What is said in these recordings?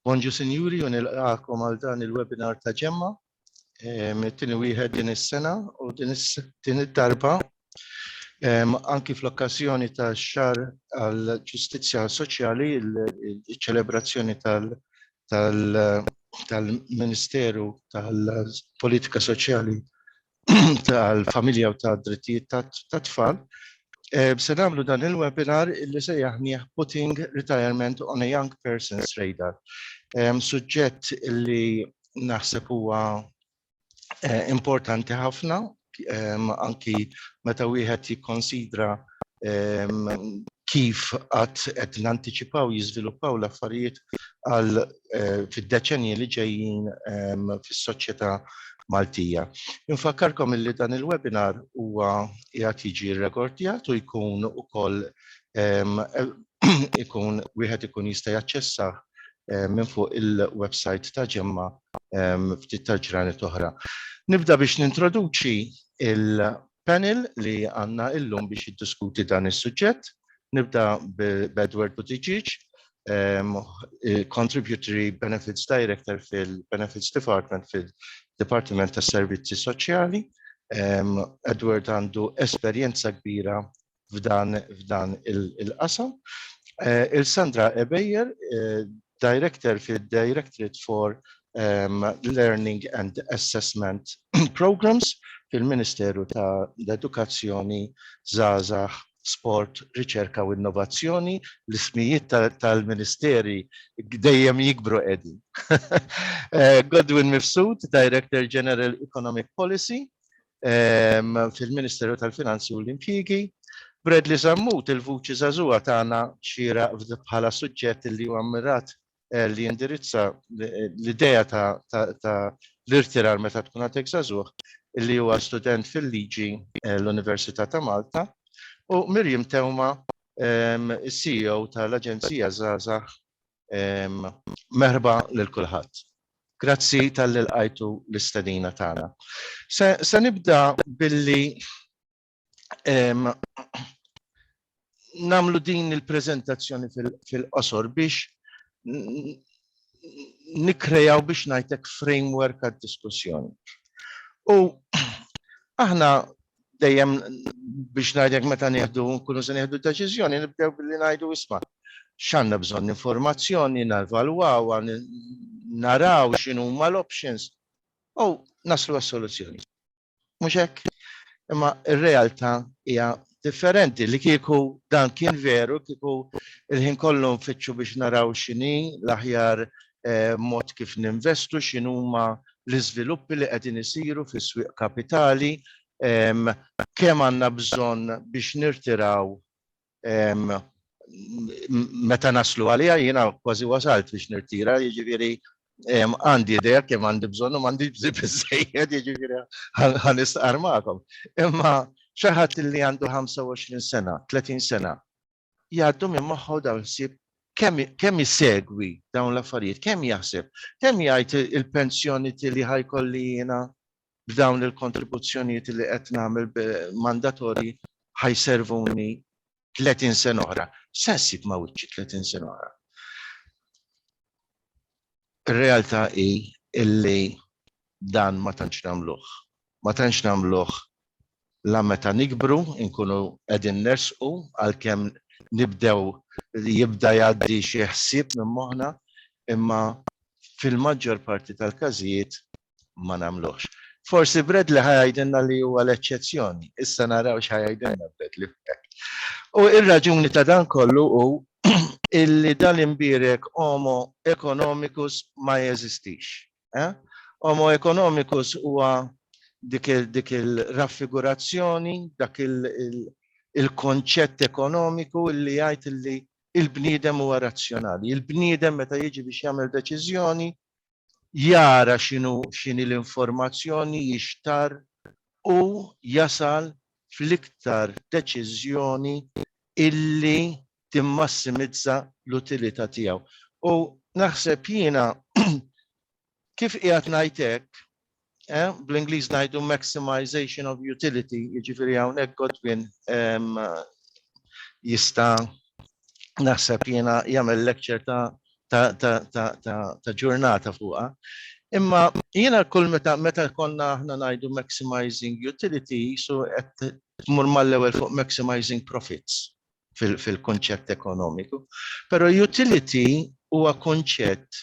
Bonġu Sinjuri u nilqakom għal dan il-webinar ta' ġemma. Tini wieħed din is-sena u din id-darba anki fl-okkażjoni ta' xar għal ġustizzja soċjali il-ċelebrazzjoni tal- tal-Ministeru tal-Politika Soċjali tal-familja u tad-drittijiet tat-tfal, se nagħmlu dan il-webinar illi sejjaħnieh Putting Retirement on a Young Person's Radar. Suġġett illi naħseb huwa importanti ħafna anki meta wieħed jikkonsidra kif għad qed nantiċipaw jiżviluppaw l-affarijiet għal fid-deċennji li ġejjin fis-soċjetà Maltija. Infakkarkom illi dan il-webinar huwa qiegħed jiġi rrekordjat u jkun ukoll ikun wieħed ikun jista' jaċċessah minn fuq il-website ta' GEMMA ftit tal-ġranet oħra. Nibda biex nintroduċi Panel li għandna illum biex jiddiskuti dan is-suġġett. Nibda b'Edward Buttigieg, Contributory Benefits Director fil-Benefits Department fid-Dipartiment tas-Servizzi Soċjali. Edward għandu esperjenza kbira f'dan il-qasam. Il-Sandra Ebejer, Director fid-Directorate for Learning and Assessment Programmes fil-Ministeru tal-Edukazzjoni, Żgħażagħ, Sport, Riċerka u Innovazzjoni. L-ismijiet tal-ministeri dejjem jikbru qegħdin. Godwin Mifsud, Director General Economic Policy, fil-Ministeru tal-Finanzi u l-Impjiegi. Bradley Zammut, il-vuċi żagħżugħa tagħna xieraq bħala suġġett li huwa mmirat li jindirizza l-idea ta' l-irtirar meta tkun għadek żagħżugħ li huwa student fil-Liġi l-Università ta' Malta u Miriam Teuma, is-CEO tal-Aġenzija Żgħażagħ Merħba lil kulħadd. Grazzi talli lqajtu l-istedina tagħna. Se nibda billi nagħmlu din il-preżentazzjoni fil-qosor biex nikkrejaw biex ngħidlek framework għad-diskussjoni. Aħna Dejjem biex ngħidlek meta nieħdu nkunu se nieħdu deċiżjoni nibdew billi ngħidu isma' x'għandna bżonn informazzjoni, nevalwawha, naraw x'inhuma l-options u naslu għas-soluzzjoni. Mhux hekk? Imma r-realtà hija differenti li kieku dan kien veru kieku l-ħin kollu nfittxu biex naraw x'inhi l-aħjar mod kif ninvestu, x'inhuma l-iżviluppi li qegħdin isiru fis-swieq kapitali, kemm għandna bżonn biex nirtiraw meta naslu għaliha, jiena kważi wasalt biex nirtira, jiġifieri għandi idea kemm għandi bżonn u m'għandix biżżejjed, jiġifieri ħa nistqarr magħkom. Imma xi ħadd li għandu 25 sena, 30 sena, jgħaddu minn moħħu dawn il-ħsieb kemm isegwi dawn l-affarijiet, kemm jaħseb, kemm jgħid il-pensjoni li ħa jkolli jiena b'dawn il-kontribuzzjonijiet li qed nagħmel mandatorji ħa jservuni 30 sena oħra. Se ssib ma' wiċċi 30 sena oħra. Ir-realtà hi illi dan ma tantx nagħmluh. ma tantx nagħmluh la meta nikbru nkunu qegħdin nersqu għalkemm nibdew jibda jgħaddi xi ħsieb minn moħħna imma fil-maġġor parti tal-każijiet ma nagħmluhx. Forsi Bradley ħa jgħidilna li huwa l-eċċezzjoni. Issa naraw x'ħa jgħidilna Bradley f'hekk. U r-raġuni ta' dan kollu hu illi dal-imbierek homo economicus ma jeżistix. Eh? Homo economicus huwa dik il-raffigurazzjoni, dak il-konċett ekonomiku li jgħid li il-bniedem huwa razzjonali. Il-bniedem meta jiġi biex jagħmel deċiżjoni jara x'inhu x'inhi l-informazzjoni jixtar u jasal fl-iktar deċiżjoni illi timmassimizza l-utilità tiegħu. U naħseb jiena kif qiegħed ngħid hekk, eh, bl-Ingliż ngħidu maximization of utility, jiġifieri hawnhekk Godwin ehm, jista' naħseb jiena jagħmel lecture ta' ta', ta, ta, ta, ta ġurnata fuqha. Imma jiena kull meta meta konna aħna ngħidu maximizing utility, so qed tmur mal-ewwel fuq maximizing profits. fil-kunċett ekonomiku, però utility huwa kunċett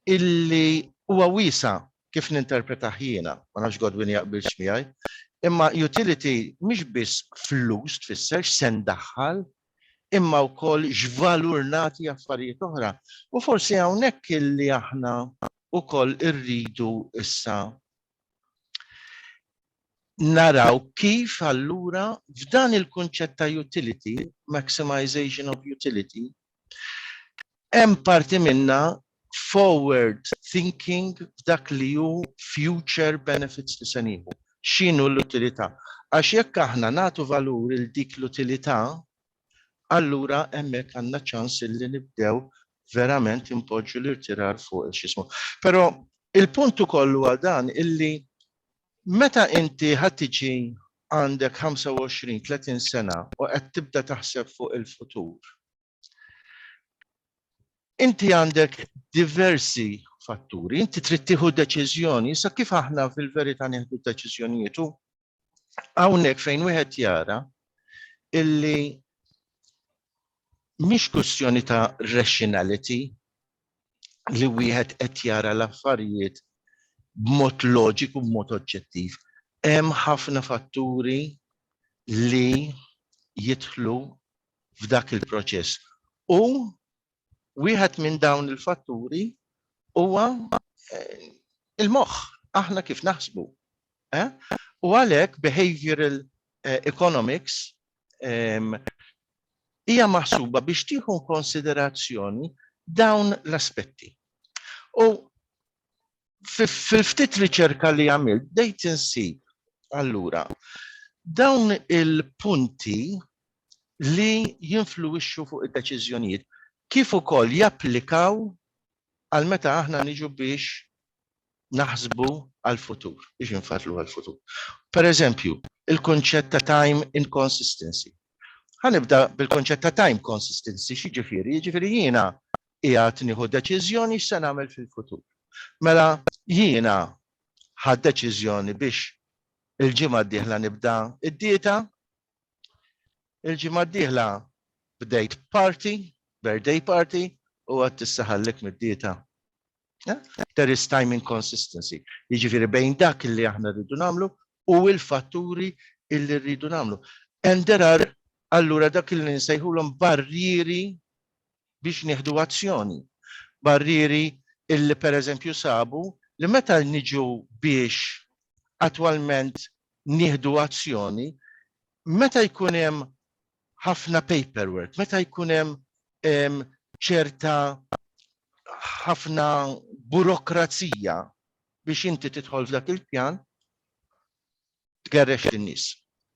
illi huwa wiesa' kif ninterpretah jiena, ma nafx Godwin jaqbilx miegħi, imma utility mhix biss flus tfisser, x'se ndaħħal, imma wkoll x'valur nagħti affarijiet oħra. U forsi hawnhekk illi aħna wkoll irridu issa naraw kif allura f'dan il-kunċett ta' utility, maximization of utility, hemm parti minna forward thinking f'dak li hu future benefits li se nieħu. X'inhu l-utilità? Għax jekk aħna nagħtu valur il dik l-utilità, allura hemmhekk għandna ċans illi nibdew verament inpoġġu l-irtirar fuq x'ismu. Però il-punt ukoll huwa dan illi meta inti ħadd tiġi għandek 25, 30 sena u qed tibda taħseb fuq il-futur, inti għandek diversi fatturi, inti trid tieħu deċiżjoni, issa kif aħna fil-verità nieħdu deċiżjonijiet u hawnhekk fejn wieħed jara illi mhix kwistjoni ta' rationality li wieħed qed jara l-affarijiet b'mod loġiku, b'mod oġġettiv. Hemm ħafna fatturi li jidħlu f'dak il-proċess. U Wieħed minn dawn il-fatturi huwa il-moħħ, aħna kif naħsbu. U għalhekk behavioral economics hija maħsuba biex tieħu konsiderazzjoni dawn l-aspetti. U fil-ftit riċerka li għamil, dejt insib, allura, dawn il-punti li jinfluwixxu fuq id-deċiżjonijiet kif ukoll japplikaw għal meta aħna niġu biex naħsbu għal-futur, biex nfatlu għal-futur. Per eżempju, il-konċett ta' time inconsistency. Ħanibda bil-konċett ta' time consistency, xieġifiri, xieġifiri jiena qiegħed nieħu deċiżjoni x'se nagħmel fil-futur. Mela jiena ħadt deċiżjoni biex il-ġimgħa d-dieħla nibda d-dieta. Il-ġimgħa d-dieħla bdejt party, birthday party, u għad tissaħallek mid-dieta. There is time inconsistency. Jiġifieri bejn dak li aħna rridu nagħmlu u l-fatturi illi rridu nagħmlu. And there are allura dak li nsejħulhom barrieri biex nieħdu azzjoni. Barrieri illi pereżempju sabu li meta niġu biex attwalment nieħdu azzjoni, meta jkun hemm ħafna paperwork, meta jkun hemm ċerta ħafna burokrazija biex inti tidħol f'dak il-pjan, tgerrex lin-nies.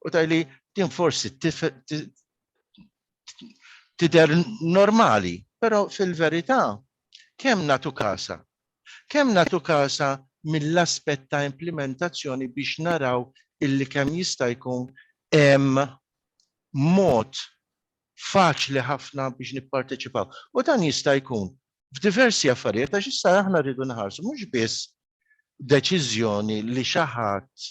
U tgħidli din forsi tidher normali, però fil-verità kemm nagħtu kasa? Kemm nagħtu kasa mill-aspett ta' implimentazzjoni biex naraw illi kemm jista' jkun hemm mod faċli ħafna biex nipparteċipaw. U dan jista' jkun f'diversi affarijiet għax issa aħna rridu nħarsu mhux biss deċiżjoni li xi ħadd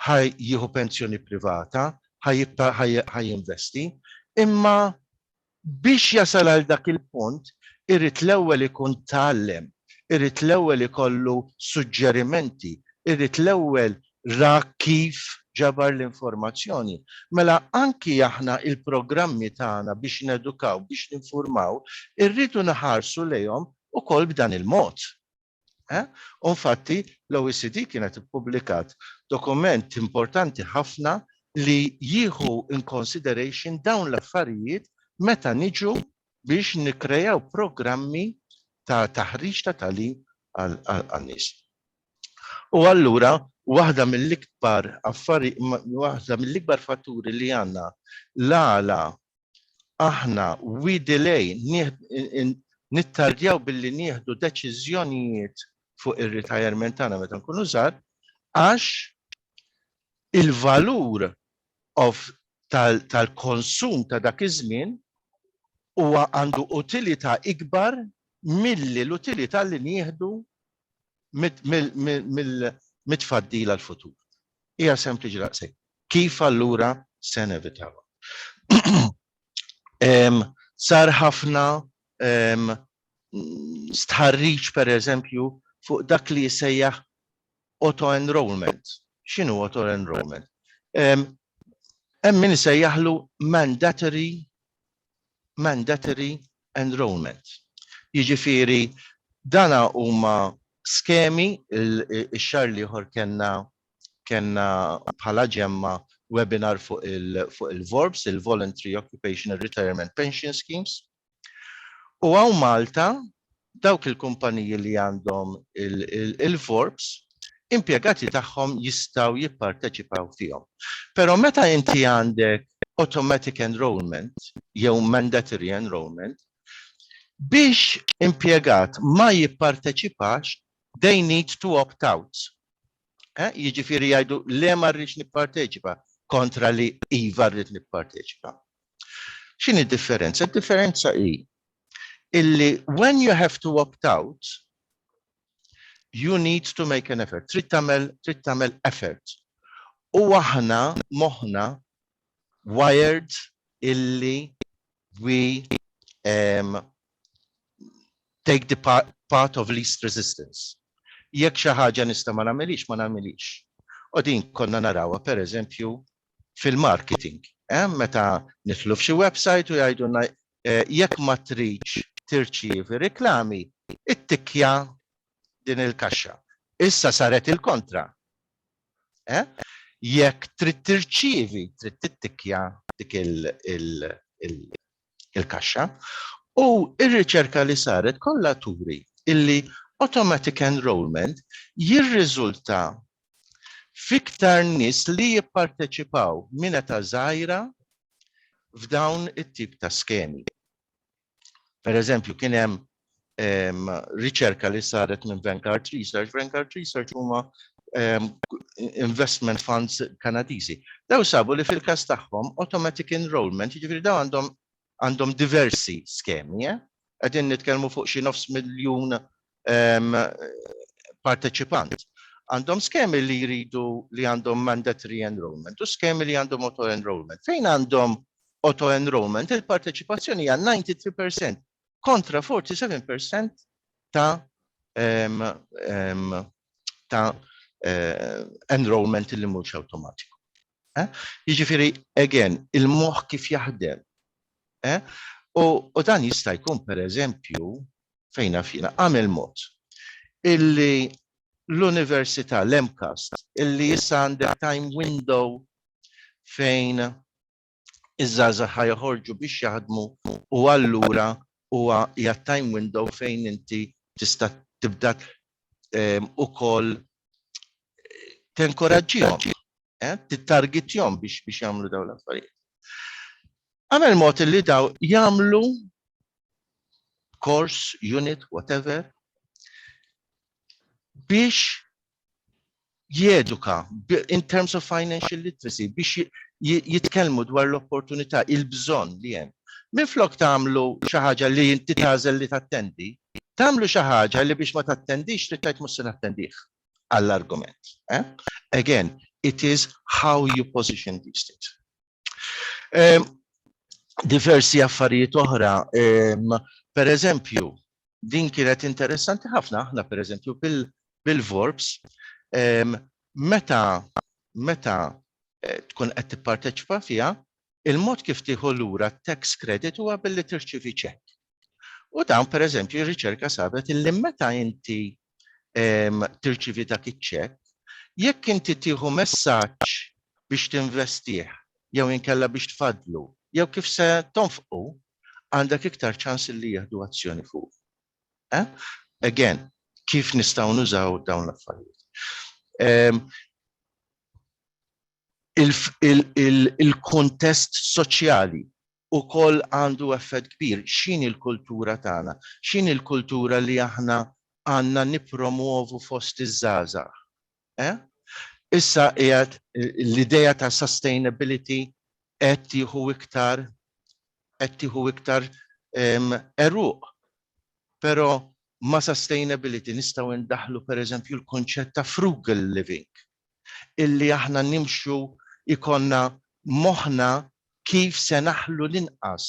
ħa jieħu pensjoni privata, ħa jibqa' ħa jinvesti, imma biex jasal għal dak il-punt irid l-ewwel ikun tgħallem, irid l-ewwel ikollu suġġerimenti, irid l-ewwel ra kif ġabar l-informazzjoni. Mela anki aħna l-programmi tagħna biex nedukaw, biex ninfurmaw, irridu nħarsu lejhom ukoll b'dan il-mod. Eh? U fatti, l-OECD kienet ippubblikat dokument importanti ħafna li jieħu in consideration dawn l-affarijiet meta niġu biex nikrejaw programmi ta' taħriġ ta' talim għal-nis. U allura, waħda mill-ikbar affari, waħda mill-ikbar fatturi li għanna l-għala aħna we delay nittardjaw billi nieħdu deċiżjonijiet fuq ir-retirement tagħna meta nkunu żgħar għax il-valur of tal-konsum ta' dak iż-żmien huwa għandu utilità ikbar milli l-utilità li nieħdu mit-tfaddil għall-futur. Hija sempliċi daqshekk. Kif allura se nevitawha? Sar ħafna stħarriġ pereżempju fuq dak li jsejjaħ auto-enrollment. X'inhu auto-enrollment? Hemm min isejjaħlu mandatory mandatory enrolment. Jiġifieri dan huma skemi, ix-xahar l-ieħor kellna kellna bħala ġemma webinar fuq il-VORPS, il-Voluntary Occupational Retirement Pension Schemes. U hawn Malta dawk il-kumpaniji li għandhom il-VORPS impjegati tagħhom jistgħu jipparteċipaw fihom. Però meta inti għandek automatic enrolment jew mandatory enrolment, biex impjegat ma jipparteċipax, they need to opt out. Eh? Jiġifieri jgħidu le ma rridx nipparteċipa kontra li iva rrid nipparteċipa. X'in id-differenza? Id-differenza hi illi when you have to opt out, You need to make an effort. Trid tagħmel trid tagħmel effort. U aħna moħħna wired illi we um, take the part, part of least resistance. Jekk xi ħaġa nista' ma nagħmilix, ma nagħmilix. U din konna narawha pereżempju fil-marketing. Eh? Meta nitlu f'xi website u jgħidulna Jekk ma tridx tirċievi riklami, ittikkja din il-kaxxa. Issa saret il-kontra. Jekk trid tirċievi, trid tittikkja dik il-kaxxa. U r-riċerka li saret kollha turi li automatic enrolment jirriżulta f'iktar nies li jipparteċipaw minn età żgħira f'dawn it-tip ta' skemi. Pereżempju, kien hemm ehm, riċerka li saret minn Vanguard Research. Vanguard Research huma ehm, investment funds Kanadiżi. Daw sabu li fil-każ tagħhom automatic enrollment, jiġifieri daw għandhom għandhom diversi skemi. Qegħdin nitkellmu fuq xi nofs miljun parteċipant. Għandhom skemi li jridu li għandhom mandatory enrollment u skemi li għandhom auto enrollment. Fejn għandhom auto enrollment il-parteċipazzjoni hija 93% kontra 47% ta' um, um, ta' uh, enrollment li mhux awtomatiku. Jiġifieri, again, il-moħħ kif jaħdem. U dan jista' jkun pereżempju, fejn naf jiena, għamel mod illi l-Università l-MCAST illi issa għandek time window fejn iż-żgħażagħ ħa joħorġu biex jaħdmu u allura huwa hija time window fejn inti tista' tibda ukoll tenkoraġġihom, tittargitjhom biex biex jagħmlu dawn l-affarijiet. Għamel mod li daw jagħmlu course, unit, whatever, biex jeduka in terms of financial literacy biex jitkellmu dwar l-opportunità, il-bżonn li hemm. Minflok tagħmlu xi ħaġa li inti tagħżel li tattendi, tagħmlu xi ħaġa li biex ma tattendix trid tgħid mhux se nattendih għall-argument. Again, it is how you position these things. Ehm, diversi affarijiet oħra, ehm, per eżempju, din kienet interessanti ħafna, aħna per eżempju bil-Vorbs, ehm, meta meta eh, tkun qed tipparteċipa fiha, il-mod kif tieħu lura tax credit huwa billi tirċivi ċek. U dan per eżempju riċerka sabet illi meta inti tirċivi dak iċ-ċekk, jekk inti tieħu messaġġ biex tinvestih jew inkella biex tfaddlu jew kif se tonfqu, għandek iktar ċans li jieħdu azzjoni fuqu. Again, kif nistgħu nużaw dawn l-affarijiet? Il-kuntest soċjali ukoll għandu effett kbir. X'inhi l-kultura tagħna? X'inhi l-kultura li aħna għandna nippromwovu fost iż-żgħażagħ? Eh? Issa qiegħed l-idea ta' sustainability qed tieħu iktar qed tieħu iktar għeruq. Però ma' sustainability nistgħu ndaħħlu pereżempju l-kunċett ta' frugal living. illi aħna nimxu jkollna moħħna kif se naħlu l-inqas,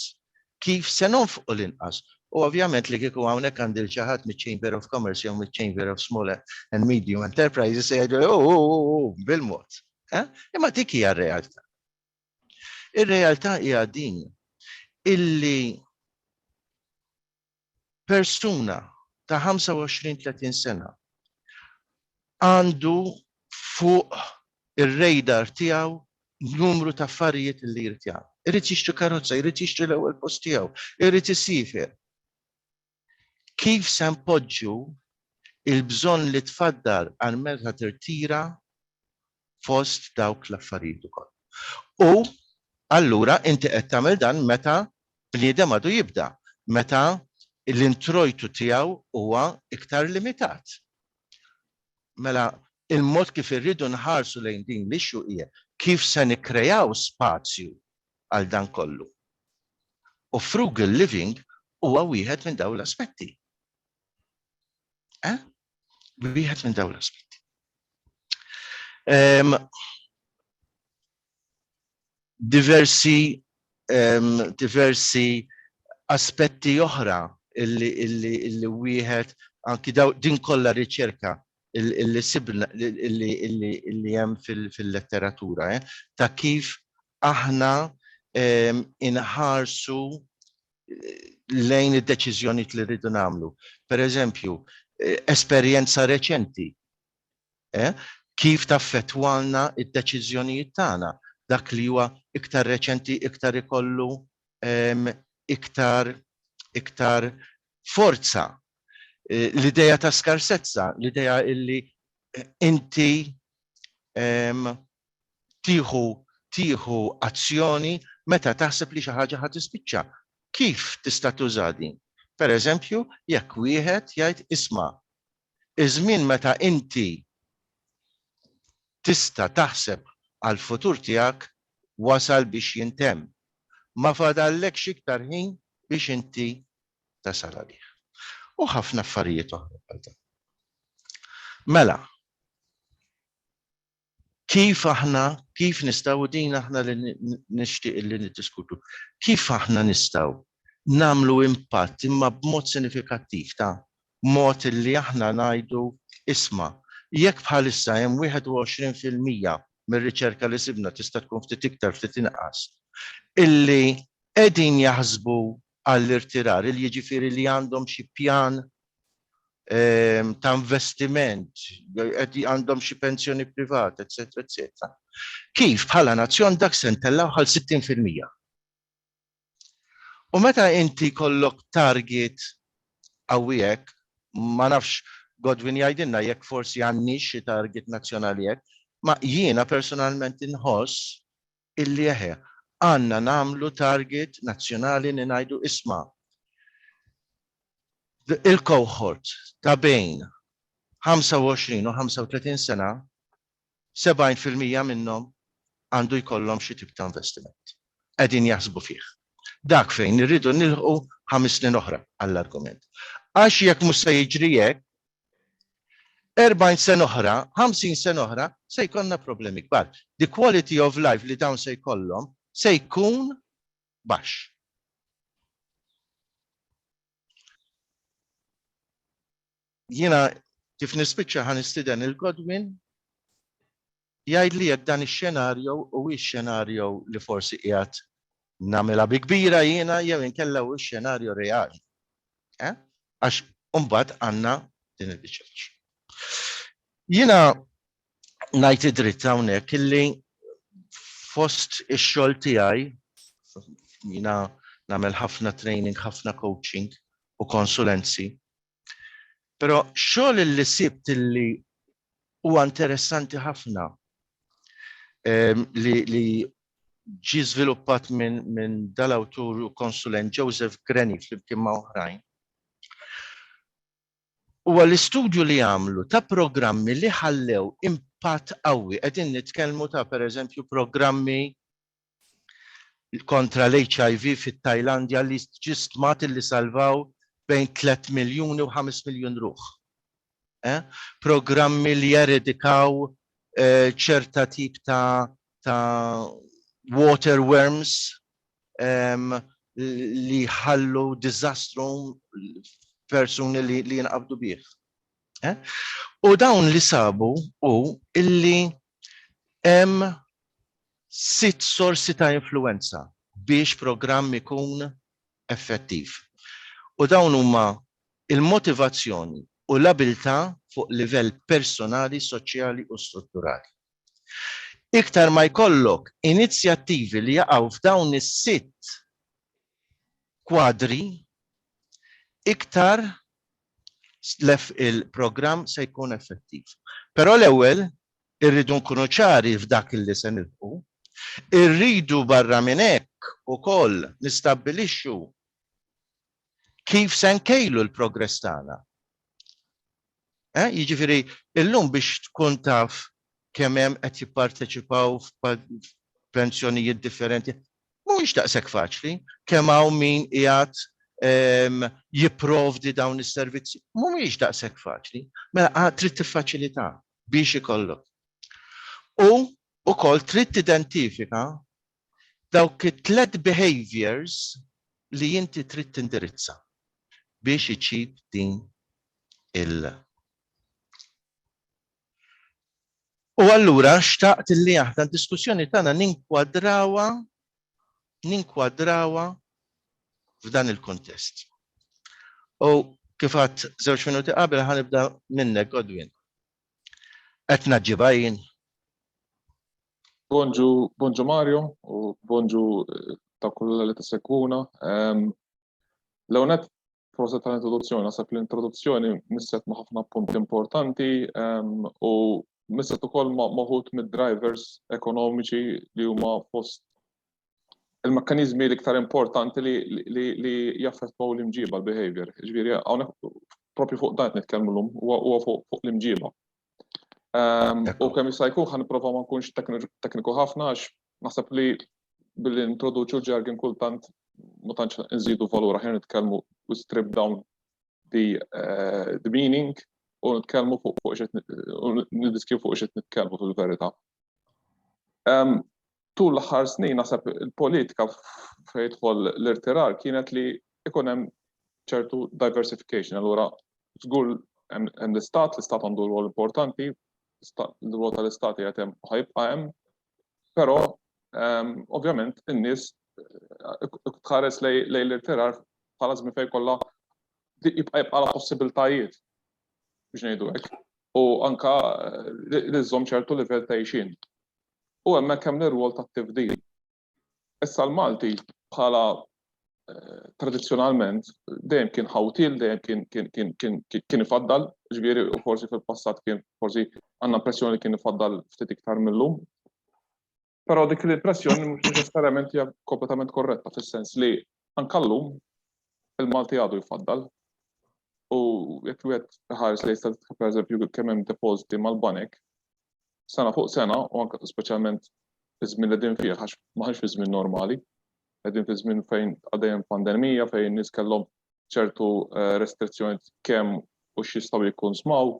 kif se nonfqu l-inqas. U ovvjament li kieku hawnhekk għandi lil xi ħadd miċ-Chamber of Commerce jew miċ-Chamber of Small and Medium Enterprises se jgħiduli, Hu hu hu hu, bil-mod. Imma dik hija r-realtà. Ir-realtà hija din illi persuna ta' 25, 30 sena għandu fuq ir-radar tiegħu numru ta' affarijiet li jrid jagħmel. Irid jixtri karozza, jrid jixtri l-ewwel post tiegħu, irid isiefer. Kif se npoġġu l-bżonn li tfaddal għal meta tirtira fost dawk l-affarijiet ukoll. U allura inti qed tagħmel dan meta bniedem għadu jibda, meta l-introjtu tiegħu huwa iktar limitat. Mela il-mod kif irridu nħarsu lejn din l-issue hija kif se nikkreaw spazju għal dan kollu. U frugal living huwa wieħed minn dawn l-aspetti. Eh? Wieħed minn dawn l-aspetti. Ehm, diversi ehm, diversi aspetti oħra illi illi illi wieħed anki daw din kollha riċerka illi sibna illi illi illi hemm fil-letteratura eh, ta' kif aħna ehm, inħarsu lejn id-deċiżjonijiet li rridu nagħmlu. Per eżempju, eh, esperjenza reċenti. Eh? Kif taffettwalna id-deċiżjonijiet tagħna dak li huwa iktar reċenti, iktar ikollu ehm, iktar iktar forza. Eh, l-ideja ta' skarsezza, l-ideja illi inti ehm, tieħu tieħu azzjoni meta taħseb li xi ħaġa ħa tispiċċa. Kif tista' tuża din? Pereżempju, jekk wieħed jgħid isma', iż-żmien meta inti tista' taħseb għall-futur tiegħek wasal biex jintemm. Ma fadallekx iktar ħin biex inti tasal għalih. U ħafna affarijiet oħra bħal dawn. Mela, Kif aħna, kif nistgħu, u din aħna li nixtieq li niddiskutu, kif aħna nistgħu nagħmlu impatt imma b'mod sinifikattiv ta' mod illi aħna ngħidu, isma', jekk bħalissa hemm 21 fil-mija mir-riċerka li sibna tista' tkun ftit iktar ftit inqas, illi qegħdin jaħsbu għall-irtirar, il jiġifieri li għandhom xi pjan ta' investiment, għandhom xi pensjoni privata, eċċetera, eċċetera, kif bħala nazzjon dak se ntellgħuh għal 60 fil-mija. U meta inti jkollok target qawwi hekk, ma nafx Godwin jgħidilna jekk forsi għandniex xi target nazzjonali hekk, ma jiena personalment inħoss illi eħe, għandna nagħmlu target nazzjonali li ngħidu isma', il-cohort ta' bejn 25 u 35 sena, 70 fil-mija minnhom għandu jkollhom xi tip ta' investiment. Qegħdin jaħsbu fih. Dak fejn irridu nilħqu ħames snin oħra għall-argument. Għax jekk mhux se jiġri hekk, 40 sena oħra, 50 sena oħra, se jkollna problemi kbar. The quality of life li dawn se jkollhom se jkun baxx. Jiena kif nispiċċa ħa nistiden il-Godwin Jgħidli jekk dan ix-xenarjo huwiex xenarjo li forsi qiegħed nagħmilha bi kbira jiena jew inkella huwiex xenarjo reali. Eh? Għax imbagħad għandna din il-biċċa tax-xogħol. Jiena ngħid id-dritt hawnhekk illi fost ix-xogħol tiegħi jiena nagħmel ħafna training, ħafna coaching u konsulenzi Però xogħol li sibt li huwa interessanti ħafna ehm, li, li ġi żviluppat minn min dal-awtur u konsulent Joseph Granny flimkien ma' oħrajn. Huwa l-istudju li għamlu ta' programmi li ħallew impatt qawwi qegħdin nitkellmu ta' pereżempju programmi kontra l-HIV fit-Tajlandja li ġie stmat illi salvaw bejn tliet miljuni u ħames miljun ruħ. Programmi li jeredikaw ċerta tip ta' ta' water worms li jħallu diżastru persuni li jinqabdu bih. U dawn li sabu hu illi Hemm sitt sorsi ta' influwenza biex programm ikun effettiv, u dawn huma l-motivazzjoni u l-abilità fuq livell personali, soċjali u strutturali. Iktar ma jkollok inizjattivi li jaqgħu f'dawn is-sitt kwadri, iktar l-F il-programm se jkun effettiv. Però l-ewwel irridu nkunu ċari f'dak li se nilħqu. Irridu barra minn hekk ukoll nistabbilixxu kif se nkejlu l-progress tagħna. Eh, jiġifieri illum biex tkun taf kemm hemm qed jipparteċipaw f'pensjonijiet differenti, Mhuwiex daqshekk faċli, kemm hawn min qiegħed jipprovdi dawn is-servizzi. Mhumiex daqshekk faċli. Mela trid tiffaċilità biex ikollok. U wkoll trid tidentifika dawk it-tliet behaviors li inti trid tindirizza biex iġib din il- U allura xtaqt li aħna d-diskussjoni tagħna ninkwadrawha ninkwadrawha f'dan il-kuntest. U kif għad żewġ minuti qabel ħanibda minnek Godwin. Qed naġġibha jien. Bonġu, bonġu Mario u bonġu eh, ta' kulla li tisegwuna. L-għonet Proset tal-introduzzjoni, naħseb l-introduzzjoni misset ma' ħafna punti importanti u misset ukoll ma' maħut mid-drivers ekonomiċi li huma fost il-mekkanizmi l-iktar importanti li jaffettwaw l-imġiba, l-behavior. Ġviri, għawnek propju fuq dan nitkellmu l-lum, huwa fuq l-imġiba. Ehm, u kemm jista' jkun ħan nipprova ma nkunx tekniku ħafna għax naħseb li billi introduċu ġargin kultant ma tantx nżidu valur aħjar nitkellmu u strip down the, eh, the meaning u nitkellmu fuq fuq xed nidiskju fuq xed nitkellmu fil-verità. Ehm, tul l-aħħar snin naħseb il-politika fejn jidħol l-irtirar kienet li ikun hemm ċertu diversification. Allura żgur hemm l-istat, l-istat għandu rwol importanti, l-rwol tal-istat jgħid hemm ħajbqa' hemm, però ehm, ovvjament in-nies eh, tħares lej l-irtirar bħala żmien fejn kollha jibqa' jibqa' la possibiltajiet biex ngħidu hekk. U anka eh, li żżomm ċertu livell ta' ixin. u hemmhekk hemm l-irwol tat-tifdil. Issa l-Malti bħala tradizzjonalment dejjem kien ħawtil, dejjem kien kien kien kien kien ifaddal, ġifieri u forsi fil-passat kien forsi għandna impressjoni li kien ifaddal ftit iktar millum. Però dik l-impressjoni mhux neċessarjament hija kompletament korretta fis-sens li Anke llum, il-Malti għadu jfaddal u jekk wieħed iħares lejn statistika pereżempju kemm hemm depożiti mal-banek, sena fuq sena u anke speċjalment fiż-żmien li qegħdin fih għax maħniex fi żmien normali, qegħdin fi żmien fejn għaddej hemm pandemija, fejn in-nies kellhom ċertu eh, restrizzjonijiet kemm u x'jistgħu jikkonsmaw,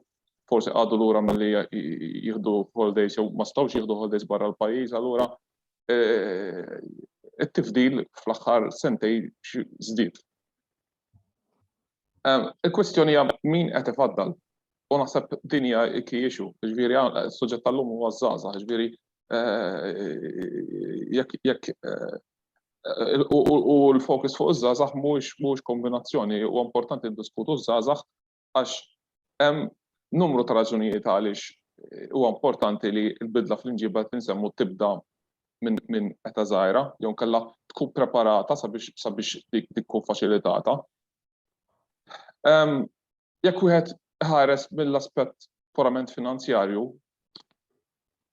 forsi għadu lura milli jieħdu holidays jew ma stawx jieħdu holidays barra l-pajjiż, allura it-tifdil fl-aħħar sentej żdied. Il-kwestjoni hija min qed ifaddal u naħseb din hija key issue, ġifieri suġġett tal-lum huwa żgħażagħ, ġifieri jekk u l-fokus fuq iż-żgħażagħ mhux kombinazzjoni, huwa importanti ndiskutu ż-żgħażagħ għax hemm numru ta' raġunijiet għaliex huwa importanti li l-bidla fl-inġiba qed insemmu tibda minn età żgħira jew inkella tkun preparata sabiex dik tkun faċilitata. Jekk wieħed iħares mill-aspett purament finanzjarju,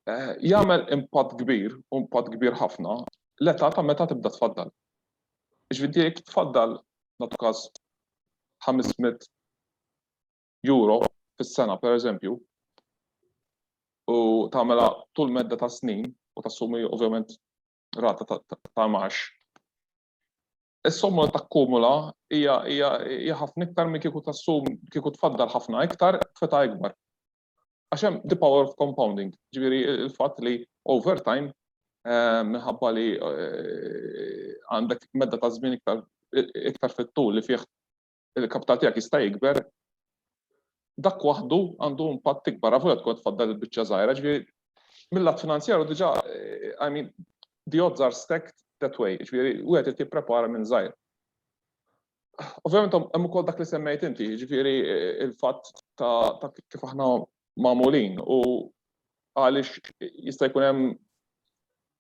jagħmel impatt kbir, u impatt kbir ħafna, l-età ta' meta tibda tfaddal. Jiġifieri jekk tfaddal, nagħtu każ, 500 euro fis-sena pereżempju, u tagħmilha tul medda ta' snin u tassumi ovvjament rata ta' imgħax, is-somma li takkumula hija ħafna iktar milli kieku tassum, kieku tfaddal ħafna iktar f'età ikbar. Għax hemm the power of compounding, ġifieri il-fatt li over time eh, minħabba li eh, għandek medda ta' żmien iktar iktar fit-tul li fih il-kapital tiegħek jista' jikber, dak waħdu għandu impatt ikbar, għafu tkun tfaddal il-biċċa żgħira, ġifieri mill-lat finanzjaru diġà, eh, I mean, the odds are stacked that way, ġifieri u għed tipprepara minn żgħir. Ovvjament hemm ukoll dak li semmejt inti, jiġifieri il-fatt ta' kif aħna magħmulin u għaliex jista' jkun hemm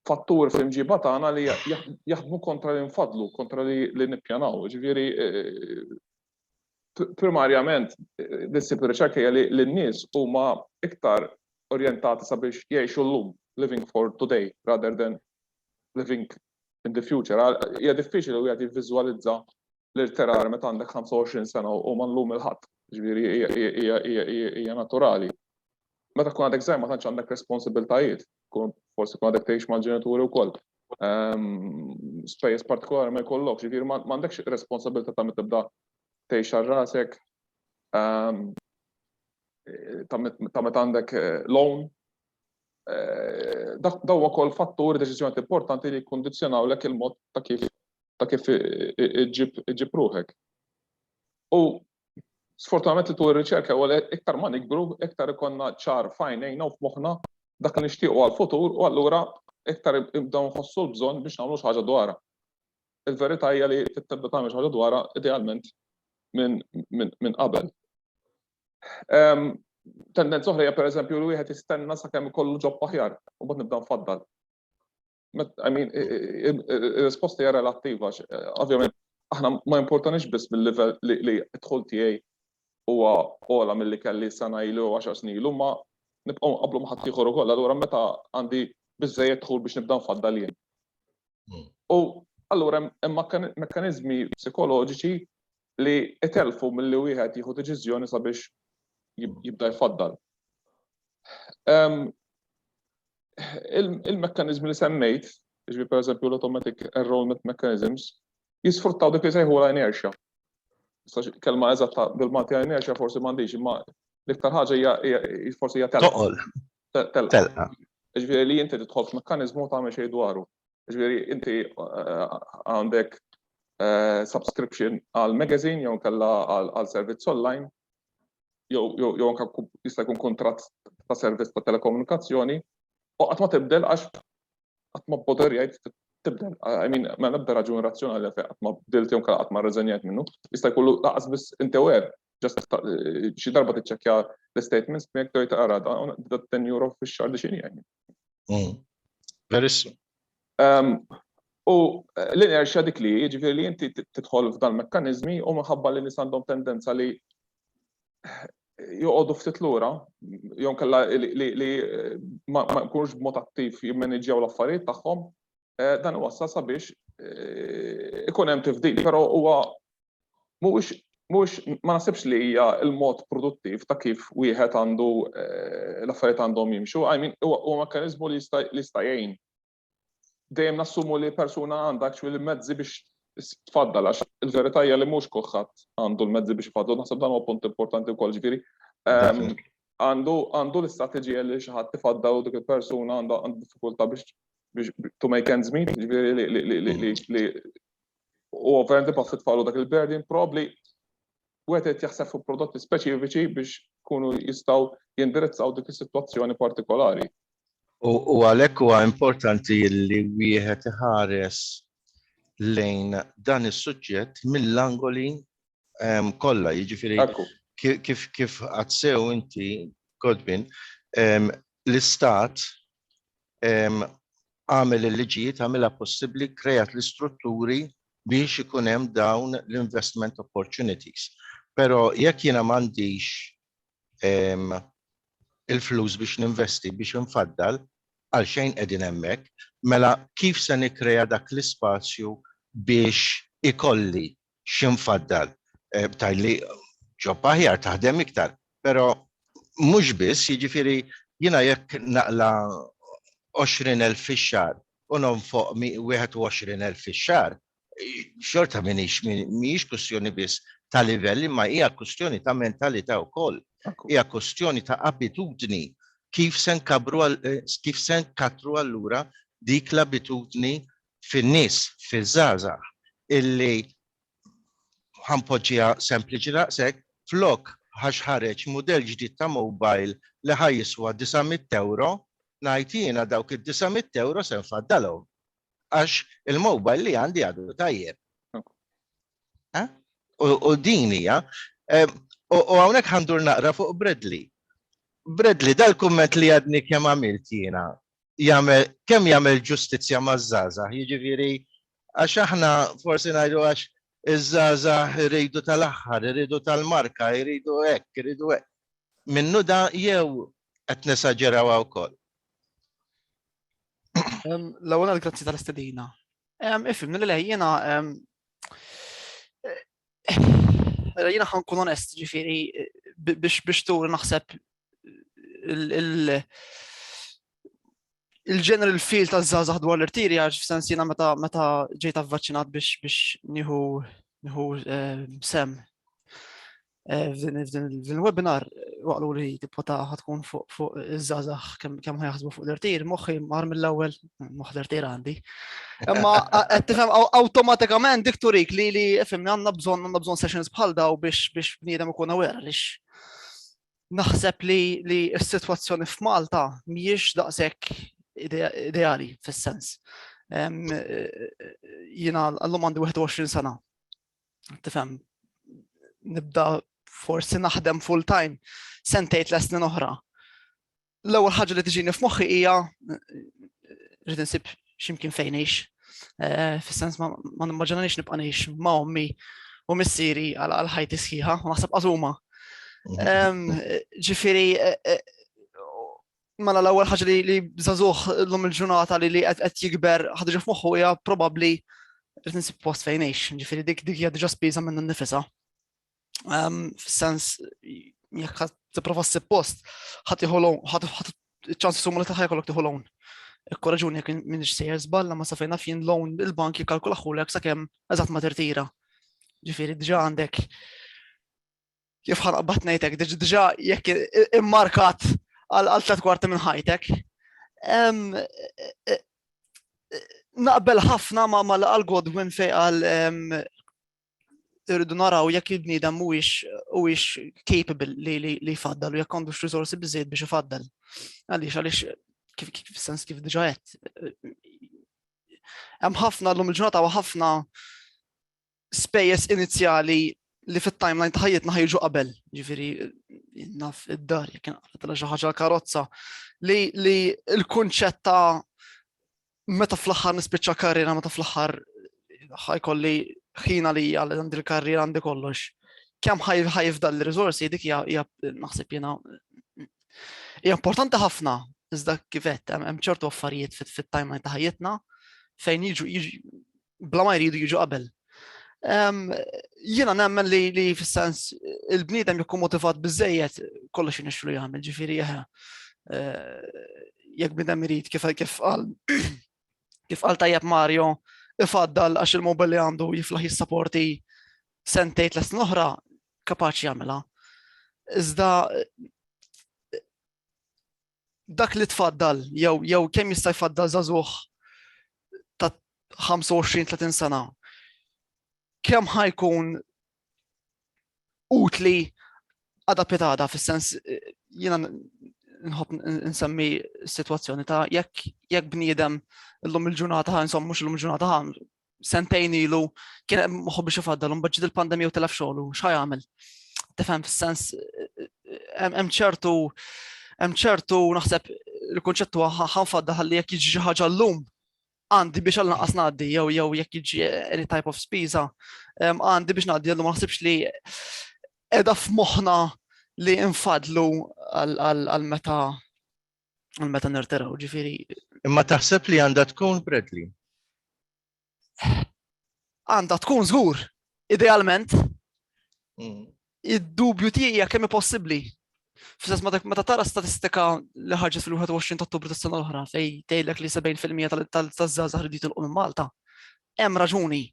fattur fl-imġiba tagħna li jaħdmu kontra li nfadlu, kontra li nippjanaw. Ġifieri primarjament dissib ir-riċerka hija li n-nies huma iktar orjentati sabiex jgħixu llum, living for today rather than living in the future. Hija diffiċli li wieħed jivviżwalizza l-irterar meta għandek 25 sena u ma llum il-ħadd. Ġifieri hija naturali. Meta tkun għadek żgħir ma tantx għandek responsibiltajiet, tkun forsi tkun għadek tgħix mal-ġenituri wkoll. Ehm, spejjeż partikolari ma jkollokx, ġifieri ma għandekx responsabilità ta' tibda tgħix għal rasek ehm, ta' meta għandek eh, loan Dak daw ukoll fatturi deċiżjoni importanti li jikkundizzjonawlek il-mod ta' kif ta' kif iġġib ruħek. U sfortunatament li tul ir-riċerka u iktar ma nikbru, iktar ikonna ċar fajnejna u f'moħħna dak li nixtiequ għal-futur u allura iktar ibdew nħossu l-bżonn biex nagħmlu xi ħaġa dwarha. Il-verità hija li tibda tagħmel xi ħaġa dwarha idealment minn qabel. Tendenza oħra hija pereżempju li wieħed jistenna sakemm ikollu ġob aħjar u bad nibda nfaddal. I mean, ir-risposta hija relattiva, ovvjament aħna ma importanix biss mill-livell li dħul tiegħi huwa ola milli kelli sena ilu u 10 snin ilu, ma nibqgħu nqablu ma' ħadd ieħor ukoll, allura meta għandi biżejjed dħul biex nibda nfaddal jien. Hmm. U allura hemm mekkaniżmi psikoloġiċi li itellfu milli wieħed jieħu deċiżjoni sabiex jibda jfaddal. Il-mekkaniżmi li semmejt, ġbi per eżempju l-automatic enrollment mechanisms, jisfruttaw dik li sejħu la inertia. Kelma eżatta bil-Malti inertia forsi m'għandix, imma l-iktar ħaġa hija forsi hija telqa. telqa. Ġifieri li inti tidħol f'mekkaniżmu ta' xejn dwaru. Ġifieri inti eh, għandek eh, subscription għal magazine jew kella għal servizz online jew anke jista' jkun kuntratt ta' servizz ta' telekomunikazzjoni u qatt ma tibdel għax qatt ma boder jgħid tibdel. I mean, ma nibda raġun razzjonali fejn qatt ma bdilt jew qatt ma rreżenjajt minnu, jista' jkollu laqas biss inti wer ġast xi darba tiċċekkja l-statements miegħek tgħid ara da ten euro fix-xahar li xini jgħin. Mm. Verissu. Ehm, u eh, l-inerxja dik li jiġifieri li inti tidħol f'dan mekkaniżmi u minħabba li nies għandhom tendenza li eh, joqogħdu ftit lura, jew kella li eh, ma jkunux b'mod attiv jimmaniġġjaw l-affarijiet tagħhom, dan wassal sabiex ikun hemm tifdil, però huwa mhuwiex mhux ma nasibx li hija l-mod produttiv ta' kif wieħed għandu eh, l-affarijiet għandhom jimxu, I mean huwa mekkaniżmu li jista' jgħin. Dejjem nassumu li persuna għandha actually mezzi biex tfaddal għax il-verità hija li mhux kulħadd għandu l-mezzi biex ifaddal, naħseb dan huwa punt importanti wkoll ġifieri. Ehm, għandu għandu l-istrateġija li xi ħadd tifaddal u dik il-persuna għandha diffikultà biex to make ends meet, ġifieri li u ovvjament ibaħħu tfaqlu dak il-burden probably wieħed qed jaħseb fuq prodotti speċifiċi biex kunu jistgħu jindirizzaw dik is-sitwazzjoni partikolari. U għalhekk huwa importanti li wieħed iħares lejn dan is-suġġett mill-angoli ehm, kollha, jiġifieri kif kif għadsew inti Godbin, ehm, l-istat għamel il-liġijiet, għamilha possibbli, kreat l-istrutturi biex ikun hemm dawn l-investment opportunities. Però jekk jiena m'għandix il-flus biex ninvesti biex infaddal għal xejn qegħdin hemmhekk, mela kif se nikkrea dak l-ispazju biex ikolli x'infaddal tgħid li ġob aħjar taħdem iktar, però mhux biss, jiġifieri jiena jekk naqla' 20,000 fix-xahar u nonfoq 21,000 fix-xahar, xorta m'iniex, mhijiex kwistjoni biss ta' livell imma hija kwistjoni ta' mentalità wkoll. Hija kwistjoni ta' abitudni kif se nkabbru, kif se nkattru allura dik l-abitudni fin-nies, fiż-żgħażagħ illi ħanpoġġiha sempliċi daqshekk, flok għax ħareġ mudell ġdid ta' mobile li ħa jiswa disa' mitt ewro, ngħid jiena dawk id-disa' mitt ewro se nfaddalhom għax il-mobile li għandi għadu tajjeb. U din hija. U hawnhekk ħandur naqra fuq Bradley. Bradley, dal-kumment li għadni kemm għamilt jiena, jagħmel kemm jagħmel ġustizzja maż-żgħażagħ, jiġifieri għax aħna forsi ngħidu għax iż-żgħażagħ iridu tal-aħħar, iridu tal-marka, iridu hekk, iridu hekk. Minnu da jew qed nesaġerawha wkoll? L-ewwel grazzi tal-istedina. Ifhimni li lejjena Mela, jina ħan kun onest, ġifiri, biex biex tur naħseb il-general feel ta' zazah dwar l-irtiri għax f'sens jina meta meta ġejt avvaċinat biex biex nieħu nieħu eh, sem eh, fil-webinar waqlu li tipo ta' ħatkun fuq fuq iż-żazax kemm ħajaħsbu fuq l-irtir, moħħi mar mill-ewwel Moħder tira għandi. Imma qed tifhem awtomatikament dik turik li li fimni għandna bżonn għandna bżonn sessions bħal daw biex biex bniedem ikun aware għaliex naħseb li li s-sitwazzjoni f'Malta mhijiex daqshekk ideali fis-sens. Jiena għallum għandi 21 sena. Tifhem nibda forsi naħdem full time sentejt l-esnin oħra L-ewwel ħaġa li tiġini f'moħħi hija rrid insib x'imkien fejn għix. Eh, fis-sens ma nimmaġinanix nibqa' ngħix ma' ommi u missieri għal ħajti sħiħa, u naħseb qasuma. Ġifieri eh, eh, mela l-ewwel ħaġa li żagħżugħ l-lum il-ġurnata li li qed jikber ħadġa f'moħħu hija probabbli rrid insib post fejn għix, ġifieri dik dik hija diġà spiża minn nifisha. fis-sens jekk ħadd tipprova ssib post, ħadd iħolhom, ħadd ċans summa li taħħa jkollok tieħu loan. Korraġuni jekk minix sejjer żballa ma safejna fien loan il-bank jikkalkula ħulek sakemm eżatt ma tirtira. Ġifieri diġà għandek kif ħanqbad ngħidlek diġà jekk immarkat għal tliet kwarti minn ħajtek. Naqbel ħafna ma mal-Godwin fej għal irridu naraw jekk il-bniedem mhuwiex capable li jfaddal u jekk għandux risorsi biżejjed biex ifaddal. Għaliex għaliex kif sens kif diġa qed. Hemm ħafna llum il-ġurnata u ħafna spejjeż inizjali li fit-timeline ta' ħajjitna ħajġu qabel, ġifieri naf id-dar jekk inqalet xi ħaġa l-karozza li l-kunċett ta' meta fl-aħħar nispiċċa karriera, meta fl-aħħar ħajkolli ħin għalija li għandi l-karriera għandi kollox. Kemm ħajf dal riżorsi dik hija naħseb jiena hija importanti ħafna iżda kifet hemm ċertu affarijiet fit-timeline ta' ħajjitna fejn jiġu bla ma jridu jiġu qabel. Jiena nemmen li li fis-sens il-bniedem jekk motivat biżejjed kollox inixxu li jagħmel, ġifieri eh, jekk bniedem irid kif kif qal kif qal tajjeb Mario ifaddal għax il-mobil li għandu jiflaħ jissaporti sentejt l oħra kapaċi jagħmilha. Iżda dak li tfaddal, jew jew kemm jista' jfaddal żagħżugħ ta' 25-30 sena, kemm ħajkun utli għada pitada, fis-sens jiena nħobb nsemmi situazzjoni ta' jekk jekk bniedem l-lum il-ġurnata ħan, insomma mhux l-lum il-ġurnata ħan, sentejn ilu kien hemm moħħu biex ifaddal imbagħad ġiet il-pandemija u telef xogħlu x'ħa jagħmel. Tifhem fis-sens hemm ċertu hemm ċertu naħseb il-kunċett huwa ħanfadda ħalli jekk jiġi xi ħaġa llum għandi biex għal naqas ngħaddi jew jew jekk jiġi any type of spiża għandi biex ngħaddi għallu ma naħsibx li qiegħda f'moħħna li infadlu għal meta Għal meta nirtiraw, ġifiri. Imma taħseb li għandha tkun Bradley? Għandha tkun żgur, idealment. Mm. Id-dubju tiegħi jekk kemm possibbli. Fis-sens meta tara statistika li ħarġet fil-21 ta' Ottubru tas-sena l-oħra fej tgħidlek li 70% tal-żgħażagħ rridu jitilqu minn Malta. hemm raġuni.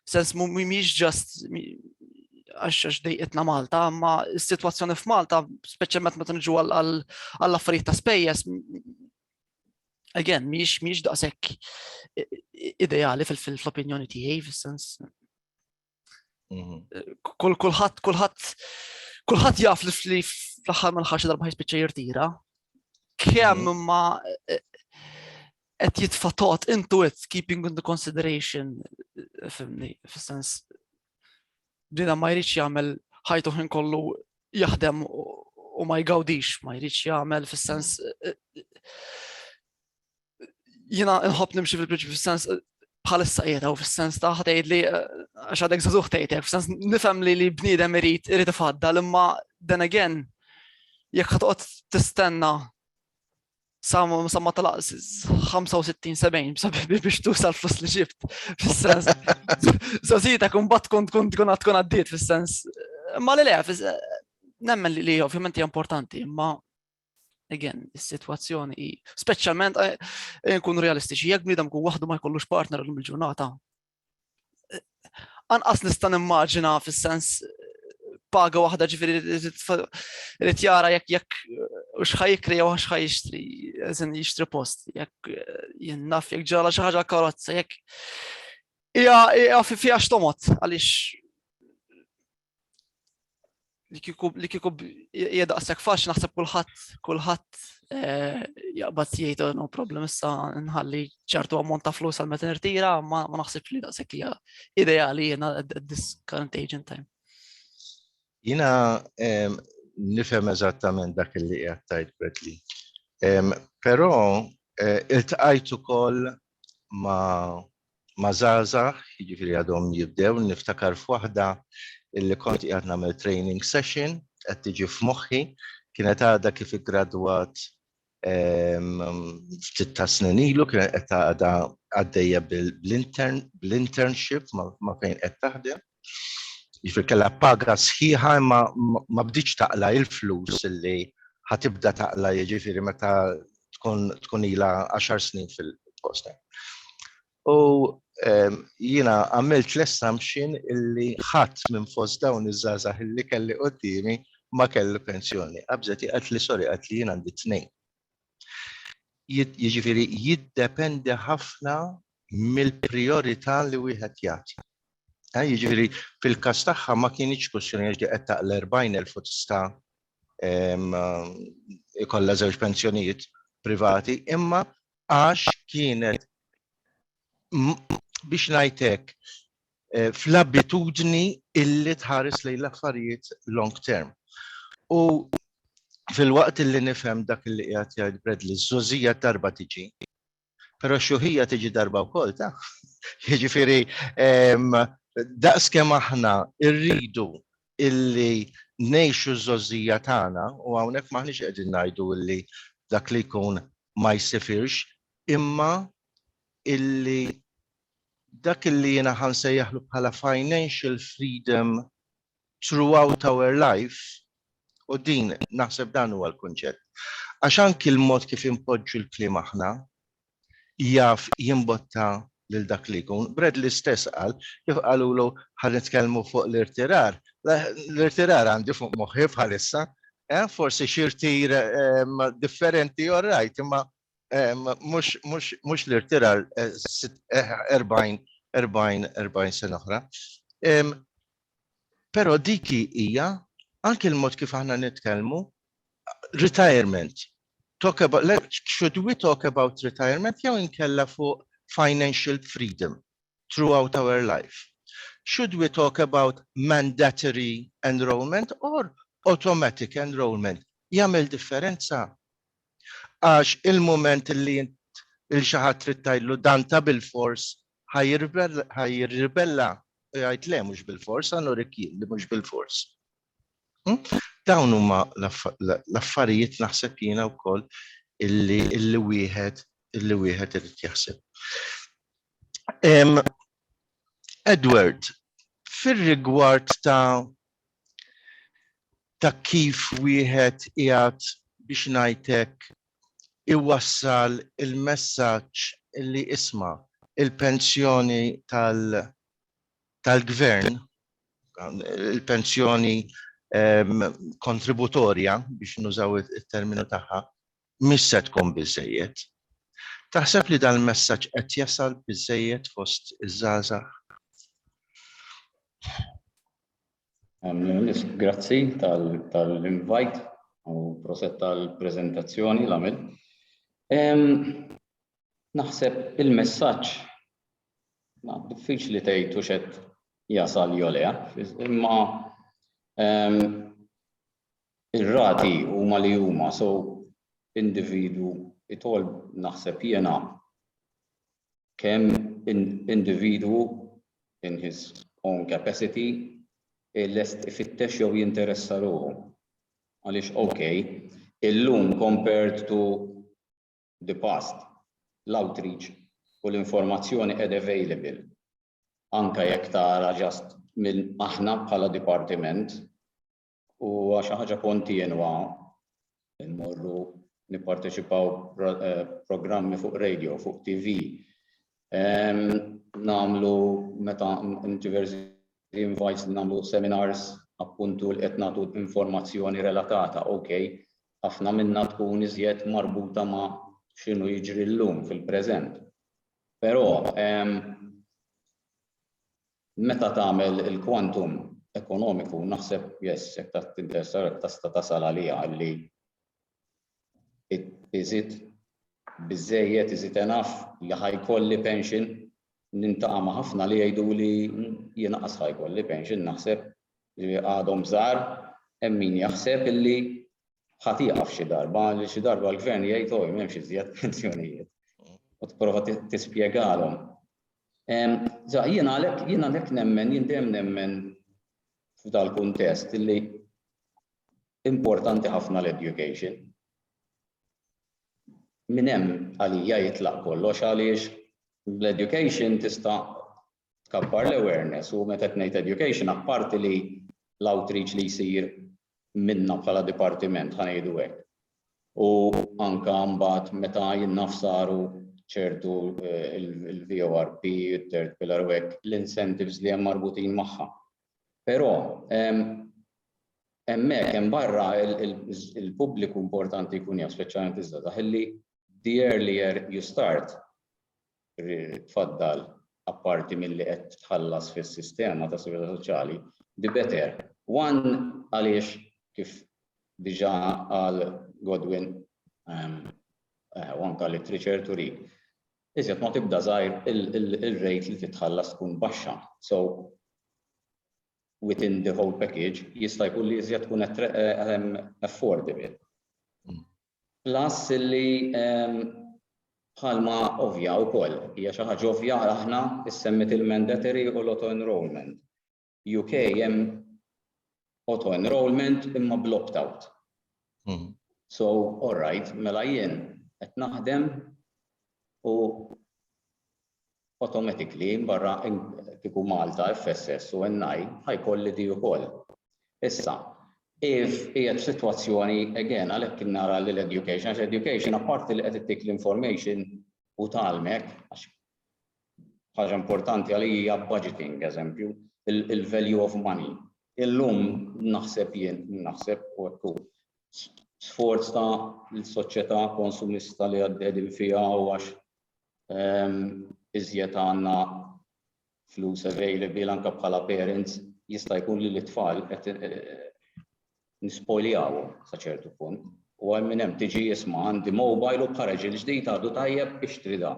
Sens mhumiex ġast għax għax dejqitna Malta, ma s-sitwazzjoni f'Malta, speċjalment meta niġu għall-affarijiet ta' spejjeż, again, miex miex daqshekk ideali fil-opinjoni tiegħi, fis-sens Mhm. Kull kulħadd kulħadd kulħadd jaf li fli fl-aħħar ma l-ħarx darba jispiċċa jirtira. Kemm mhm. ma eh, qed jitfa' tot into it keeping into consideration eh, fimni fis-sens dina ma jridx jagħmel ħajtu ħin kollu jaħdem u ma jgawdix, ma jridx jagħmel fis-sens eh, jina nħobb nimxi fil-prinċipju fis-sens eh, bħalissa qiegħed u fis-sens ta' ħdejt li eh, għax għadek żagħżugħ tgħidek, fis-sens nifhem li li bniedem irid irid ifaddal imma then again jekk ħatqgħod tistenna sa ma talaq 65-70 biex tuża l-flus li ġibt. Fis-sens, zazita kun bat kun tkun tkun tkun għaddiet fis-sens. Ma li le, eh, nemmen li ovvjament hija importanti, ma again, is-sitwazzjoni hi speċjalment eh, eh, nkunu realistiċi, jekk bniedem kun waħdu ma jkollux partner l il-ġurnata. Eh, anqas nista' nimmaġina fis-sens paga waħda ġifieri li tjara jekk jekk x'ħaj jikri jew x'ħaj jixtri, eżin jixtri post, jekk jinnaf jekk ġala xi ħaġa karozza, jekk hija fiha x'tomot għaliex li kiku li kiku jedaqsek fax naħseb kulħadd kulħadd eh, jaqbad jgħid oh, no problem issa nħalli ċertu ammont ta' flus għal meta nirtira ma ma naħsibx li daqshekk hija ideali jiena at this current age in time. Jiena ehm, nifhem eżattament dak li qed tajt Bradley. Ehm, però eh, iltqajt ukoll ma ma' żgħażagħ, jiġifieri għadhom jibdew, niftakar f'waħda illi kont qiegħed nagħmel training session, qed tiġi f'moħħi, kienet għadha kif iggradwat ftit ta' snin ilu, kienet qed għadha għaddejja bl-intern, bl-internship ma' fejn qed taħdem. Jiġifieri kellha paga sħiħa imma ma bdietx taqla' il-flus li ħatibda taqla' jiġifieri meta tkun ilha għaxar snin fil-post. U jiena għamilt l-assumption illi ħadd minn fost dawn iż-żgħażagħ illi kelli quddiemi ma kellu pensjoni. Qabżet hi qaltli sorry qaltli jien għandi tnejn Jiġifieri jiddependi ħafna mill-prijorità li wieħed jagħti. Eh, jiġifieri fil-każ tagħha ma kienx kwistjoni għax qed taqla 40,000 u tista' ikollha żewġ pensjonijiet privati, imma għax kienet biex ngħidlek fl-abitudni illi tħares lejn l-affarijiet long term. U filwaqt illi nifhem dak illi qiegħed jgħid Bradley, ż-żgħożija darba tiġi, però x-xjuħija tiġi darba wkoll taf. Jiġifieri daqskemm aħna rridu illi ngħixu ż-żgħożija tagħna u hawnhekk m'aħniex qegħdin ngħidu illi dak li jkun ma jsifirx imma illi dak li jiena ħa nsejjaħlu bħala financial freedom throughout our life, u din naħseb dan huwa l-kunċett. Għax anki l-mod kif inpoġġu l-kliem aħna jaf jimbotta lil dak li jkun. Bradley stess qal, kif qalulu ħa nitkellmu fuq l-irtirar, l-irtirar għandi fuq moħħi bħalissa, eh, forsi xi rtir ehm, differenti all right, imma Mhux l-irtirar 40 40 sena oħra. Però dik hija anke l-mod kif aħna nitkellmu retirement. Talk about should we talk about retirement jew inkella fuq financial freedom throughout our life? Should we talk about mandatory enrollment or automatic enrollment? Jagħmel differenza? Għax il-mument li int lil xi ħadd trid tgħidlu dan ta' bilfors ħa jirribella u jgħid le mhux bilfors ħa nurik jien li mhux bilfors. Dawn huma l-affarijiet naħseb jiena wkoll illi illi wieħed illi wieħed irid jaħseb. Edward, fir-rigward ta' ta' kif wieħed qiegħed, biex ngħid hekk, iwassal il-messaġġ li isma', il-pensjoni tal-Gvern, il-pensjoni kontributorja, biex nużaw it-terminu tagħha, mhix se tkun biżżejjed. Taħseb li dal-messaġġ qed jasal biżżejjed fost iż-żgħażagħ? Grazzi tal-invajt u proset tal-prezentazzjoni l-għamil. Naħseb il-messaġġ ma diffiċli tgħid u xed jasal jolea, imma ir-rati huma li huma so individu itol naħseb jiena kemm individwu in his own capacity lest ifittex jew jinteressa ruħu. Għaliex ok, illum compared to the past, l-outreach u l-informazzjoni qed available. Anke jekk tara just minn aħna bħala dipartiment Huwa xi ħaġa kontinwa immorru nipparteċipaw eh, programmi fuq radio, fuq TV. Namlu meta diversi invites namlu seminars appuntu li qed nagħtu informazzjoni relatata, ok, ħafna minna tkun iżjed marbuta ma' x'inhu jiġri llum fil-preżent. Però Meta tagħmel il-quantum ekonomiku naħseb yes jekk ta' tinteressa jekk tista' tasal għaliha illi iżid biżżejjed iżid enough li ħa jkolli pension nintaqa' ma' ħafna li jgħiduli jien anqas ħa jkolli pension naħseb li għadhom żgħar hemm min jaħseb illi ħa tieqaf xi darba li xi darba l-gvern jgħid oh m'hemmx iżjed pensjonijiet u tipprova tispjegalhom Sa jiena għalhekk jiena għalhekk nemmen, jien dejjem nemmen f'dal-kuntest li importanti ħafna l-education. Min hemm għalija jitlaq kollox għaliex l-education tista' tkabbar l-awareness u meta qed ngħid education apparti li l-outreach li jsir minna bħala dipartiment, ħa ngħidu hekk, u anke mbagħad meta jinnaf saru ċertu il-VORP, il-third pillar u hekk, l-incentives li hemm marbutin magħha. Però hemmhekk hemm barra il-pubbliku importanti jkun jaf, speċjalment iż-żgħażagħ, illi the earlier you start, tfaddal apparti milli qed tħallas fis-sistema ta' sigurtà soċjali bi better one għaliex kif diġà qal Godwin u anke literature turi iżjed ma tibda żgħir il-rate li titħallas tkun baxxa. So within the whole package jista' jkun li iżjed tkun affordable. Plus li, bħalma ovvja wkoll, hija xi ħaġa ovvja għal aħna, issemmiet il-mandatory u l-auto-enrolment. UK hemm auto-enrolment imma bl-opt-out. So, all right, mela jien qed naħdem u automatically barra kieku Malta, FSS u NI ħa jkolli di ukoll. Issa, if qiegħed f'sitwazzjoni again għalhekk nara li l-education għax education apparti li qed ittik l-information u tgħallmek għax ħaġa importanti għalija hija budgeting eżempju, il-value of money. Illum naħseb jien naħseb u hekk sforz ta' l-soċjetà konsumista li għaddedin fiha u għax iżjed għandna flus available anke bħala parents jista' jkun li l-itfal qed nispoljawhom sa ċertu punt. U għal minn hemm tiġi jisma' għandi mobile u bħareġ il-ġdid għadu tajjeb biex trida.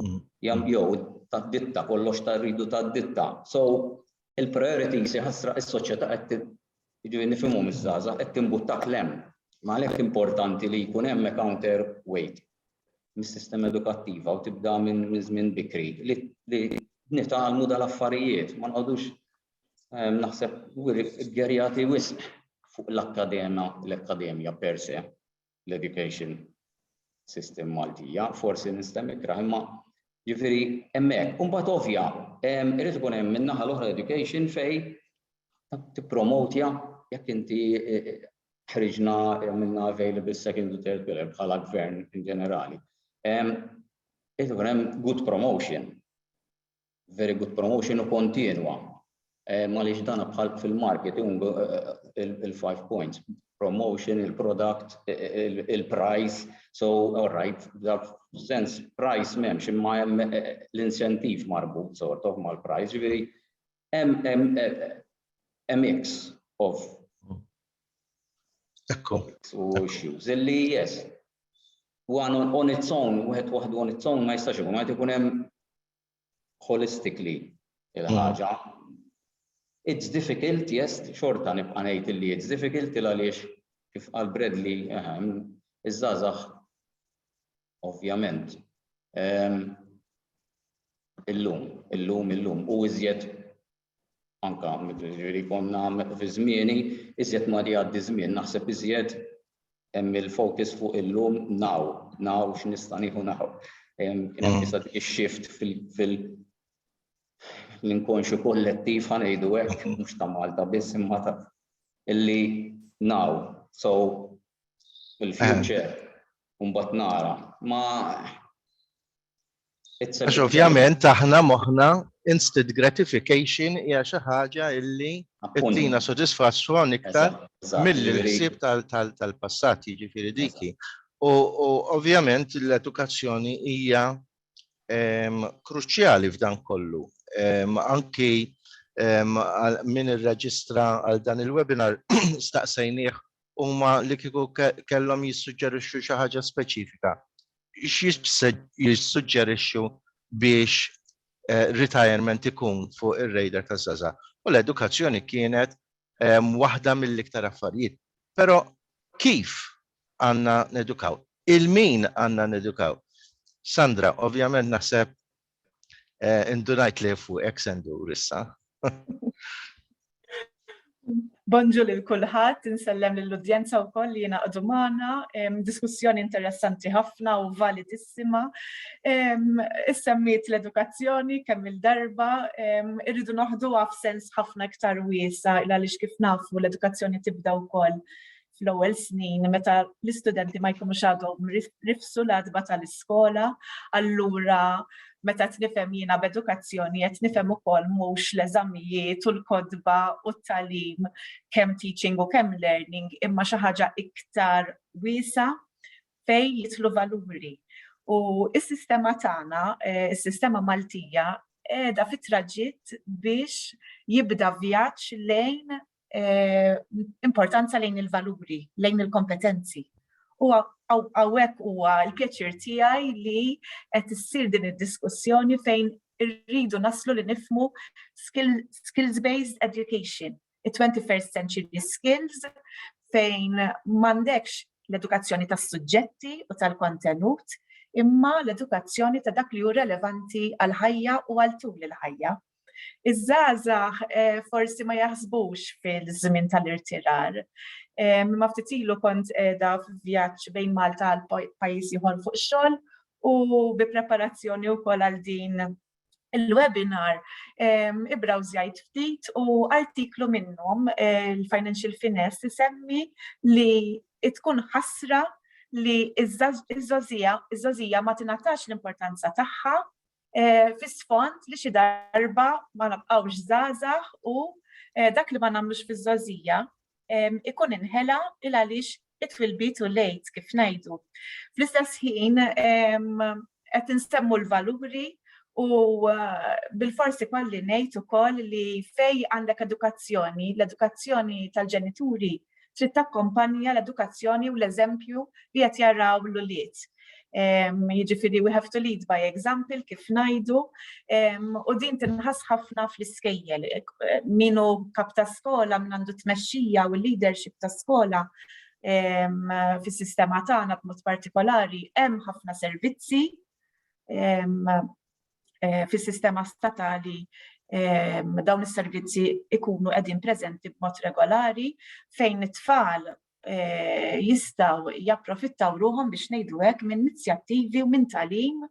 Mm. Jam jew ta' ditta kollox ta' rridu ta' ditta. So il-priorities jħassra is-soċjetà qed Jiġifieri nifhimhom iż-żgħażagħ, qed timbuttak 'l hemm. Għalhekk importanti li jkun hemm a counter weight mis-sistema edukattiva u tibda minn żmien bikri li nitgħallmu dal-affarijiet, ma nqogħdux ehm, naħseb gerjati wisq fuq l-akkadema, l-akkademja per se. l-education system Maltija, forsi nistem ikra, imma ġifiri emmek, un bat ovja, irrit ikun hemm minnaħa l-oħra education fej tippromotja jekk inti e, e, ħriġna minna available second u third pillar bħala gvern in ġenerali. Irrit ikun hemm good promotion very good promotion u kontinwa. Eh, Malix dana bħal fil-marketing, eh, il-five points, promotion, il-product, eh, il-price, so all right, that sense price mem, ximma jem l-incentiv marbut sort of mal-price, ġviri, a mix of Ekku. U issues, illi yes, one on, on its own, wieħed waħdu on its own ma jistax ikun, ma jkun hemm holistically il-ħaġa. It's difficult, yes, xorta nibqa' ngħid illi it's difficult il għaliex kif qal Bradley ehm, iż-żgħażagħ ovvjament ehm, illum, illum, illum u iżjed anka ġifieri konna fi żmieni, iżjed ma jgħaddi żmien naħseb iżjed hemm il-focus fuq illum now, now x'nista' nieħu naħu. Kien hemm jista' mm. ix-shift fil- l-inkonxu kollettiv ħanejdu hekk mhux ta' Malta biss imma ta' illi now, so il-future, mbagħad nara. Ma Għax ovvjament aħna moħna instant gratification hija xi ħaġa illi tina sodisfazzjon iktar mill-ħsieb tal-passat jiġifieri diki. U ovvjament l-edukazzjoni hija ehm, kruċjali f'dan kollu. Ehm, anki ehm, min irreġistra għal dan il-webinar staqsejnieh huma li kieku kellhom jissuġġerixxu xi ħaġa speċifika jissuġġerixxu biex retirement ikun fuq ir-radar taż-żgħażagħ. U l-edukazzjoni kienet waħda mill-iktar affarijiet. Però kif għandna nedukaw? Il-min għandna nedukaw? Sandra, ovvjament naħseb Indunajt li fuq ek se ndur issa. Bonġu lil kulħadd, insellem lill-udjenza wkoll li jingħaqdu magħna. Diskussjoni interessanti ħafna u validissima. Issemmiet l-edukazzjoni kemm-il darba, irridu noħduha f'sens ħafna iktar wiesa' għaliex kif nafu l-edukazzjoni tibda wkoll fl-ewwel snin meta l-istudenti ma jkunux għadhom rifsu l-għadba tal-iskola, allura meta tnifhem jiena b'edukazzjoni qed nifhem ukoll mhux l-eżamijiet u l-kotba u t-talim kemm teaching u kemm learning imma xi ħaġa iktar wiesa' fejn jidħlu valuri. U s-sistema tagħna, eh, is-sistema Maltija, qiegħda fit-traġitt biex jibda vjaġġ lejn eh, importanza lejn il-valuri, lejn il-kompetenzi. U għawek huwa l-pjaċir tiegħi li qed issir din id-diskussjoni fejn irridu naslu li nifmu skills-based education, it-21st century skills, fejn mandekx l-edukazzjoni tas suġġetti u tal-kontenut, imma l-edukazzjoni ta' dak li hu relevanti għal-ħajja u għal tul il-ħajja. Iż-żgħażagħ eh, forsi ma jaħsbux fil-żmien tal-irtirar. Eh, ma ftit ilu kont qiegħda f'vjaġġ bejn Malta għal pajjiż ieħor fuq xogħol u bi preparazzjoni wkoll għal din il-webinar eh, ibrawżjajt ftit u artiklu minnhom il-Financial Finesse isemmi li tkun ħasra li iż-żazija ma tingħatax l-importanza tagħha eh, fi sfond li xi darba ma nabqgħux żgħażagħ u eh, dak li ma nagħmlux fiż-żgħożija ikun inħela il għaliex it-twilbit u lejt kif ngħidu. Fl-istess ħin qed insemmu l-valuri U uh, bil-forsi kolli nejt u koll li fej għandek edukazzjoni, l-edukazzjoni tal-ġenituri trid takkompanja l-edukazzjoni u l-eżempju li qed jaraw l-ulied. Jiġifieri we have to lead by example kif ngħidu u din tinħass ħafna fl-iskejjel. Min hu kap ta' skola, min għandu tmexxija u leadership ta' skola fis-sistema tagħna b'mod partikolari hemm ħafna servizzi eh, fis-sistema statali ehm, dawn is-servizzi ikunu qegħdin preżenti b'mod regolari fejn it-tfal eh, jistaw japprofittaw ruħom biex nejdu hekk minn inizjattivi u minn talim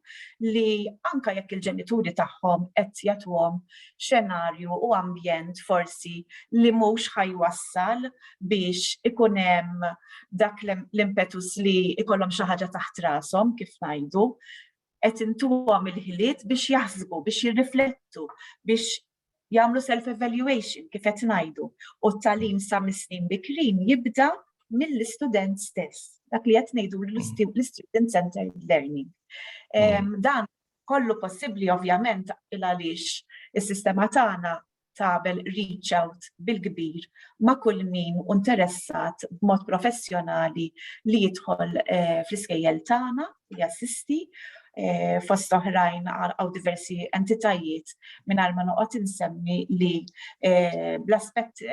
li anka jekk il-ġenituri tagħhom qed jagħtuhom xenarju u ambjent forsi li mhux ħajwassal biex ikun hemm dak l-impetus li ikollhom xi ħaġa taħt rashom kif ngħidu qed intuhom il-ħiliet biex jaħsbu, biex jirriflettu, biex jagħmlu self-evaluation kif qed ngħidu. U t-tagħlim sa mis-snin bikrin jibda mill-istudent stess, dak li qed ngħidu l-student centered learning. Dan kollu possibbli ovvjament il għaliex is-sistema tagħna tagħmel reach out bil-kbir ma' kull min hu interessat b'mod professjonali li jidħol eh, fl-iskejjel tagħna li jassisti eh, fost oħrajn għaw diversi entitajiet minn ma noqgħod insemmi li eh, bl-aspett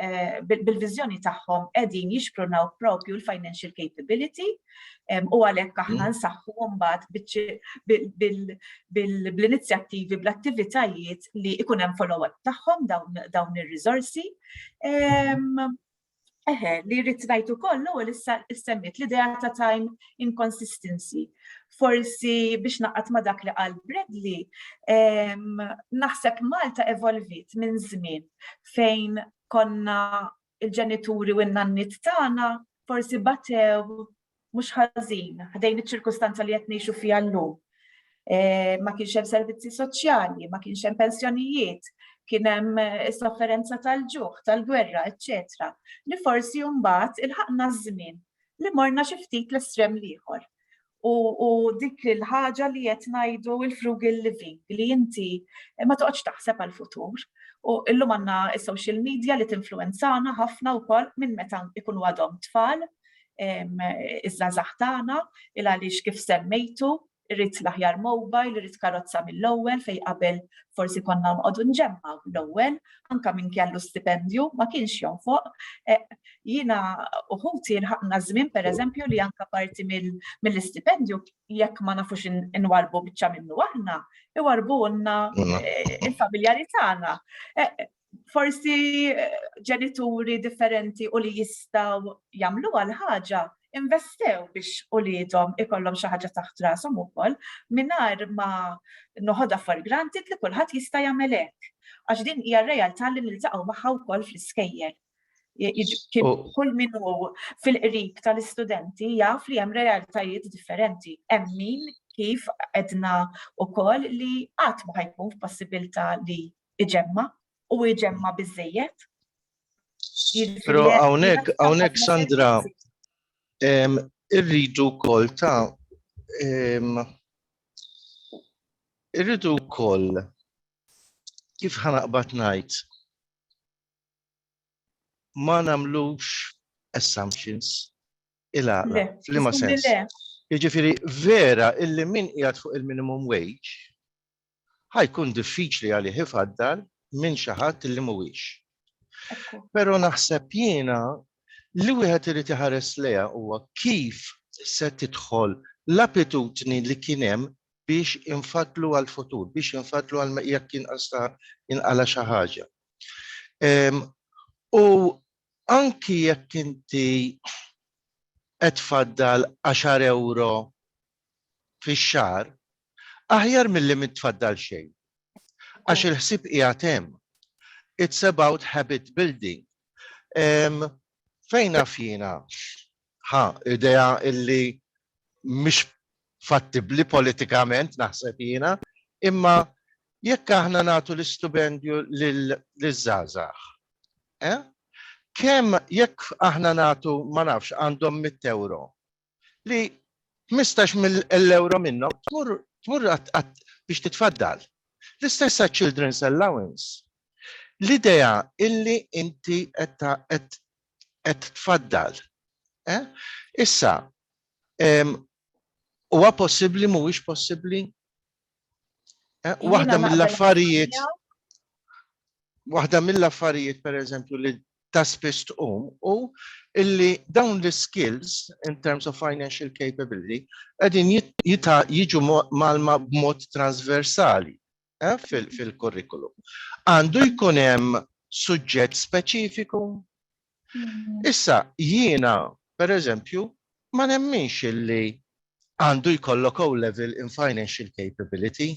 bil-viżjoni tagħhom qegħdin jixprunaw propju l-financial capability U għalhekk aħna mm. nsaħħu mbagħad bil-inizjattivi, bl-attivitajiet li ikun hemm follow-up tagħhom dawn ir-riżorsi. Eħe, li rrid ngħid ukoll l-ewwel issemmiet l-idea ta' time inconsistency. Forsi biex naqgħad ma' dak li qal Bradley, naħseb Malta evolvit minn żmien fejn konna il-ġenituri u n-nanniet tagħna forsi batew mhux ħażin ħdejn iċ-ċirkustanza li qed ngħixu fiha llum. E, ma kienx hemm servizzi soċjali, ma kienx hemm pensjonijiet, kien hemm eh, sofferenza tal-ġuħ, tal-gwerra, eċċetera. Li forsi mbagħad ilħaqna ż-żmien li morna xi ftit l-estrem l-ieħor. u, u dik il-ħaġa li qed ngħidu il-frugal living li inti ma toqgħodx taħseb għall-futur. U illum għandna s-social media li tinfluenzana ħafna wkoll minn meta ikunu għadhom tfal iż-żazax tagħna il għaliex kif semmejtu irrid l-aħjar mobile, irrid karozza mill-ewwel fejn qabel forsi konna nqogħdu nġemmaw l-ewwel anka min kellu stipendju, ma kienx jonfoq. E, jina uħuti l-ħakna zmin, per eżempju, li anka parti mill-stipendju, jekk ma nafux inwarbu bieċa minnu aħna, iwarbu għonna e, il-familjari tagħna. E, forsi ġenituri differenti u li jistaw jamlu għal-ħagġa, investew biex uliedhom ikollhom xi ħaġa taħt rashom ukoll mingħajr ma noħodha for granted li kulħadd jista' jagħmel hekk. Għax din hija r-realtà li niltaqgħu magħha wkoll fl-iskejjel. Kull min hu fil-qrib tal-istudenti jaf li hemm realtajiet differenti. Hemm min kif edna wkoll li qatt ma ħajkun f'possibilità li iġemma u jġemma biżejjed. Pero għawnek, għawnek Sandra, irridu kol ta' irridu kol kif ħanaqbat najt ma namlux assumptions il-għala, fl-ima sens. Jiġifieri vera illi min qiegħed fuq il-minimum wage ħa jkun diffiċli għalih ifaddal minn xi ħadd li mhuwiex. Però naħseb jiena li wieħed irid iħares lejha huwa kif se tidħol l-abitudni li kien hemm biex infaddlu għall-futur, biex infaddlu għal jekk inqala xi ħaġa. U anki jekk inti qed faddal 10 euro fix-xahar, Aħjar milli m'intfaddal xejn. Għax il-ħsieb qiegħed hemm. It's about habit building. Fejn naf jiena, ħa, idea illi mhix fattibbli politikament naħseb jiena, imma jekk aħna nagħtu l-istupendju liż-żgħażagħ, eh? kemm jekk aħna nagħtu ma nafx għandhom 100 euro, li 15 mill ewro minnhom tmur tmur biex titfaddal. L-istess għaċ-Children's Allowance. L-idea illi inti qed tfaddal. Eh? Issa, huwa possibbli mhuwiex possibbli Eh, waħda mill-affarijiet waħda mill-affarijiet per eżempju li ta' spiss tqum u illi dawn l-skills in terms of financial capability qegħdin jiġu malma b'mod transversali eh, fil-kurrikulum. Għandu jkun hemm suġġett speċifiku Issa, jiena, per eżempju, ma nemminx illi għandu jkollok o level in financial capability.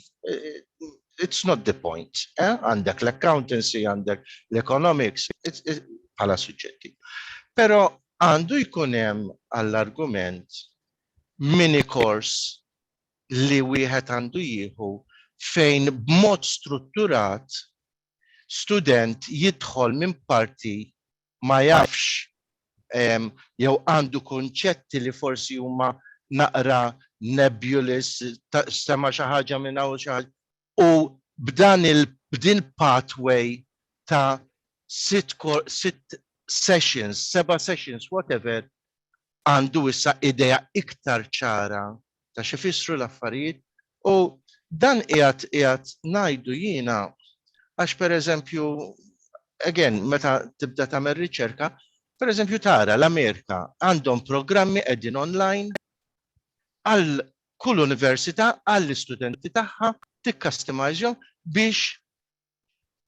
It's not the point. Eh? Għandek eh? l-accountancy, għandek l-economics, bħala suġġetti. Pero għandu jkunem għall-argument mini kors li wieħed għandu jieħu fejn b'mod strutturat student jidħol minn parti ma jafx jew għandu kunċetti li forsi huma naqra nebulous, sema' xi ħaġa minn hawn u xi ħaġa u b'dan il b'din pathway ta' sitt sitt sessions, seba' sessions, whatever, għandu issa idea iktar ċara ta' x'ifissru l-affarijiet u dan qiegħed qiegħed ngħidu jiena għax pereżempju again meta tibda tagħmel riċerka pereżempju tara l-Amerika għandhom programmi qegħdin online għal kull università għall-istudenti tagħha tikkastimajżhom biex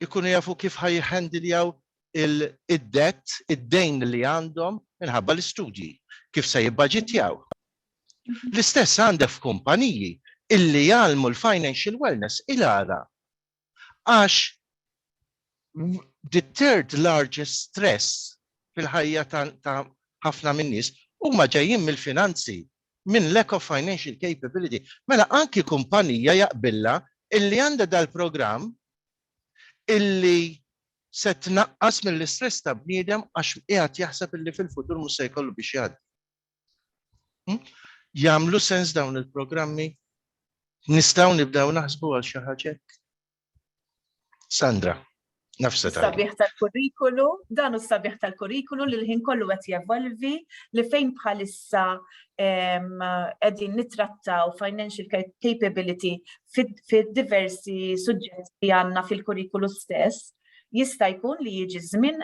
ikunu jafu kif ħa jihhandiljaw id-debt, id-dejn li għandhom minħabba l-istudji, kif se jibbaġitjaw. L-istess għandek f'kumpaniji illi jgħallmu l-financial wellness il-għala. Għax the third largest stress fil-ħajja ta' ħafna min-nies huma ġejjin mill-finanzi, minn lack of financial capability. Mela anki kumpanija jaqbillha illi għandha dal-programm illi se tnaqqas mill-istress ta' bniedem għax qiegħed jaħseb illi fil-futur mhux se jkollu biex jgħaddi. Jagħmlu sens dawn il-programmi? Nistgħu nibdew naħsbu għal xi ħaġa hekk? Sandra, nafsa tal. Sabiħ tal-kurrikulu, dan u sabiħ tal-kurrikulu li l-ħin kollu qed jevolvi li fejn bħalissa qegħdin nittrattaw financial capability fid-diversi suġġetti għandna fil-kurrikulu stess, jista' jkun li jiġi żmien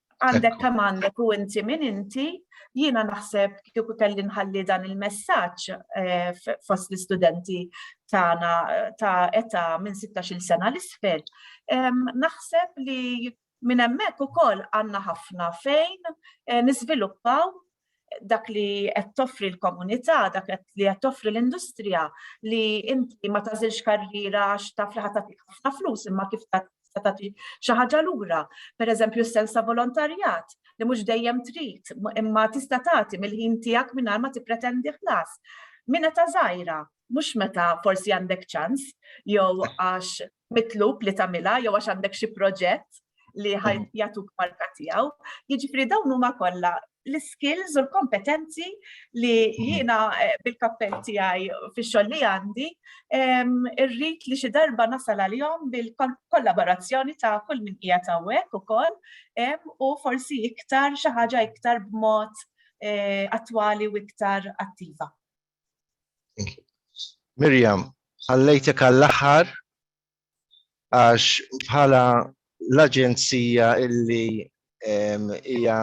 Għandek kemm għandek u inti min inti, jiena naħseb kieku kelli nħalli dan il-messaġġ eh, fost l-istudenti tagħna ta' età minn 16-il sena l isfel, naħseb li minn hemmhekk ukoll għandna ħafna fejn eh, niżviluppaw dak li qed toffri l-komunità, dak li qed toffri l-industrija li inti ma tażilx karriera għax taf li ħadd ħafna flus imma kif tagħti xi ħaġa lura. Pereżempju s-sens ta' volontarjat li mhux dejjem trid imma tista' tagħti mill-ħin tiegħek mingħajr ma tippretendi ħlas. Min qed żgħira, mhux meta forsi għandek ċans jew għax mitlub li tagħmilha jew għax għandek xi proġett li ħaj jagħtuk marka tiegħu. Jiġifieri dawn huma kollha l-skills u l-kompetenzi li jiena eh, bil-kappell tiegħi fix-xogħol li għandi irrid li xi darba nasal għalihom bil-kollaborazzjoni ta' kull min hija tawwek ukoll u forsi iktar xi ħaġa iktar b'mod eh, attwali u iktar attiva. Mirjam, ħallejtek għall-aħħar għax bħala l-aġenzija illi hija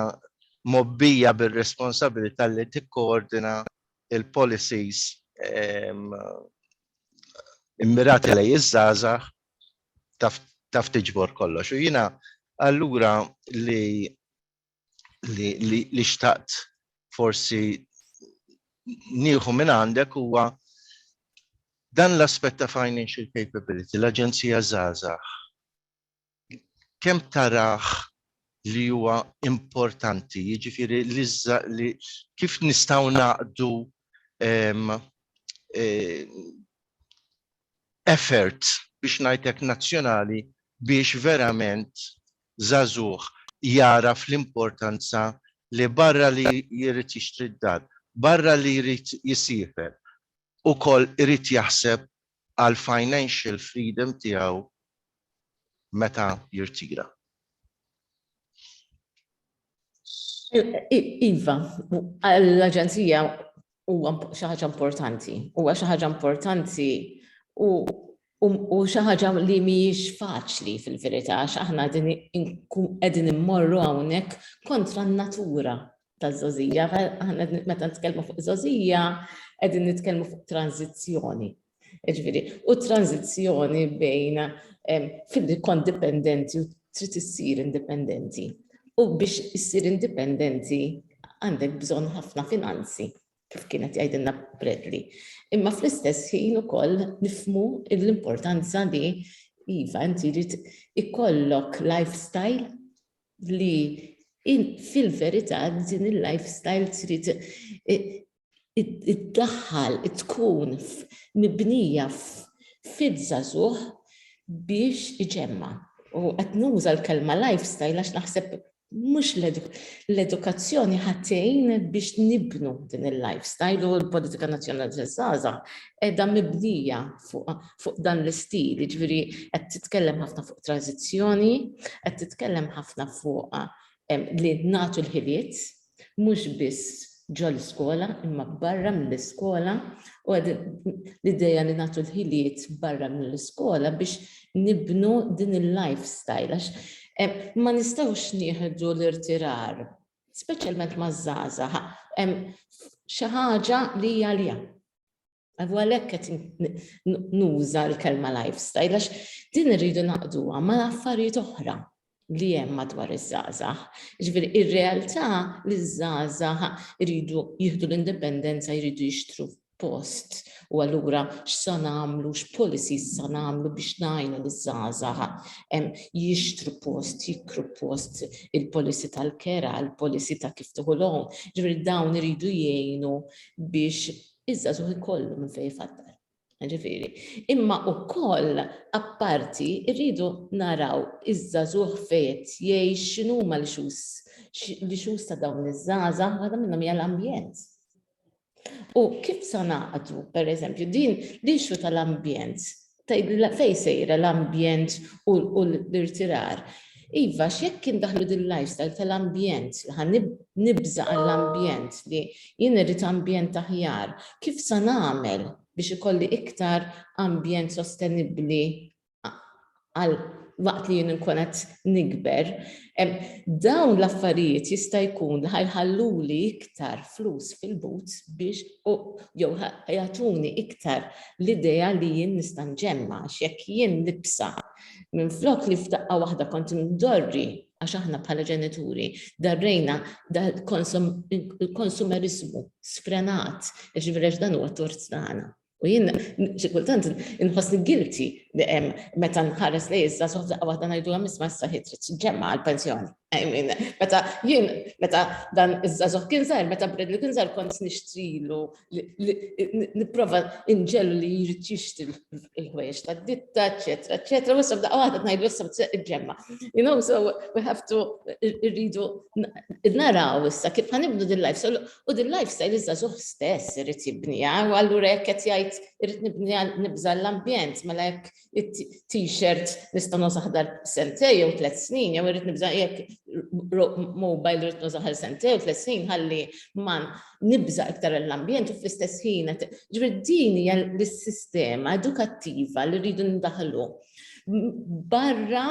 mobbija bir-responsabilità li tikkoordina il-policies immirati lejn iż-żgħażagħ taf tiġbor kollox. U jiena allura li li, li, li xtaqt forsi nieħu minn għandek huwa dan l-aspett ta' financial capability, l-Aġenzija Zazax, kemm taraħ li huwa importanti, jiġifieri li, li kif nistgħu naqdu um, e, effort biex ngħid hekk nazzjonali biex verament żagħżugħ jagħraf l-importanza li barra li jrid jixtri d-dar, barra li jrid jisiefer, ukoll irid jaħseb għall-financial freedom tiegħu meta jirtira. Iva, l-Aġenzija huwa xi ħaġa importanti, huwa xi ħaġa importanti u xi ħaġa li mhijiex faċli fil-verità għax aħna qegħdin immorru hawnhekk kontra n-natura taż-żożija. Aħna meta nitkellmu fuq żożija qegħdin nitkellmu fuq tranżizzjoni Ġifieri, u tranzizzjoni bejn fil kont dipendenti u trid issir indipendenti. U biex issir indipendenti għandek bżonn ħafna finanzi, kif kienet jgħidilna Bradley. Imma fl-istess ħin ukoll nifmu l-importanza li iva inti rrid ikollok lifestyle li fil-verità din il-lifestyle trid iddaħħal tkun mibnija fiż-żagħżugħ biex iġemma'. U qed nuża l-kelma lifestyle għax naħseb mhux l-edukazzjoni ħatejn biex nibnu din il-lifestyle u l-politika nazzjonali taż-żgħażagħ qiegħda mibnija fuq dan l-istil, jiġifieri qed titkellem ħafna fuq transizzjoni, qed titkellem ħafna fuq li nagħtu l-ħiliet mhux biss ġol-iskola imma barra mill-iskola u l-idea li nagħtu l-ħiliet barra mill-iskola biex nibnu din il-life style għax ma nistgħux nieħdu l-irtirar, speċjalment maż-żgħażagħ, xi ħaġa li hija għaliha. Għavu għalek għet nuża l-kelma lifestyle, għax din rridu naqduha ma l-affarijiet oħra li jem madwar iż-żazax. Ġviri, ir-realtà li ż-żazax rridu jihdu l-indipendenza, jridu jixtru post u għallura x'san għamlu, x'polisi san għamlu biex najnu l-żazax jixtru post, jikru post il-polisi tal-kera, il-polisi ta' kif tuħu l-għom. Ġviri, dawn rridu jgħinu biex Iż-żagħżugħ ikollu minn fejn ifaddal. Jiġifieri, imma wkoll apparti rridu naraw iż-żagħżugħ fejn qed jgħix, x'inhuma l-issues, l-issues ta' dawn iż-żgħażagħ, waħda minnhom hija l-ambjent. U kif sa ngħaqdu, pereżempju, din l-issue tal-ambjent tgħidilha fejn sejra l-ambjent u l-irtirar. Iva, x'jekk indaħħlu din l-lifestyle tal-ambjent, li ħa nibża' għall-ambjent, li jien irrid ambjent aħjar, kif sa nagħmel biex ikolli iktar ambjent sostenibbli għal waqt li jien inkun qed nikber? Dawn l-affarijiet jista' jkun li ħa jħalluli iktar flus fil-but biex jew ħa jagħtuni iktar l-idea li jien nista' nġemma' għax jekk jien nibsa' minflok li f'daqqa waħda kont indorri għax aħna bħala ġenituri darrejna l-konsumeriżmu sfrenat jiġifieri għax dan huwa t-tort tagħna. U jien xi kultant inħossni guilty meta nħares li iżda soħda waħda ngħidu hemm isma' issa ħid trid ġemma għall-pensjoni. Meta jien meta dan iż-żagħżugħ kien żgħir, meta Bradley kien żgħir kont nixtrilu nipprova inġelu li jrid jixtri l-ħwejjeġ tad-ditta, eċetera, eċetera, u issa f'daqqa waħda ngħidu issa ġemma. You know, so we have to irridu naraw issa kif ħanibdu din life. U din lifestyle iż-żagħżugħ stess irid jibniha, u allura jekk qed jgħid irid nibniha nibża' l-ambjent, mela jekk t-shirt nista' nuża ħdar sentej jew tliet snin, jew irid nibża' jekk mobile irid nuża ħdar sentej jew tliet snin ħalli ma nibża' iktar l-ambjent u fl-istess ħin qed. Ġifieri din hija l-sistema edukattiva li rridu ndaħħlu. barra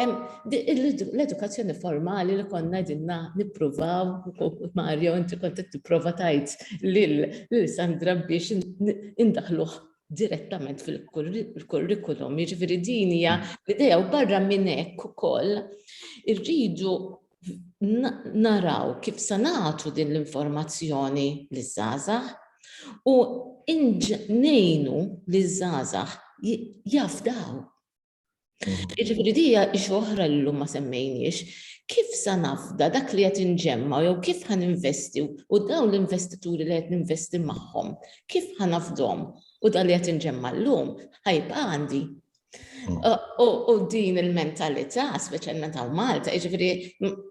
l-edukazzjoni formali li konna dinna nippruvaw, Mario, inti kont tipprova tajt lil Sandra biex indaħluh direttament fil-kurrikulum, jiġifieri din hija l-idea u barra minn hekk ukoll irridu naraw kif se nagħtu din l-informazzjoni liż-żgħażagħ u ngħinu liż-żgħażagħ jafdaw. Mm. Jiġifieri dija ix oħra li llum ma semmejniex, kif sa nafda dak li qed inġemma jew kif ħan investi u dawn l-investituri li qed ninvesti magħhom, kif ħan nafdhom u dan li qed inġemma llum ħajba għandi U din il-mentalità, speċjalment għal Malta, ġifiri,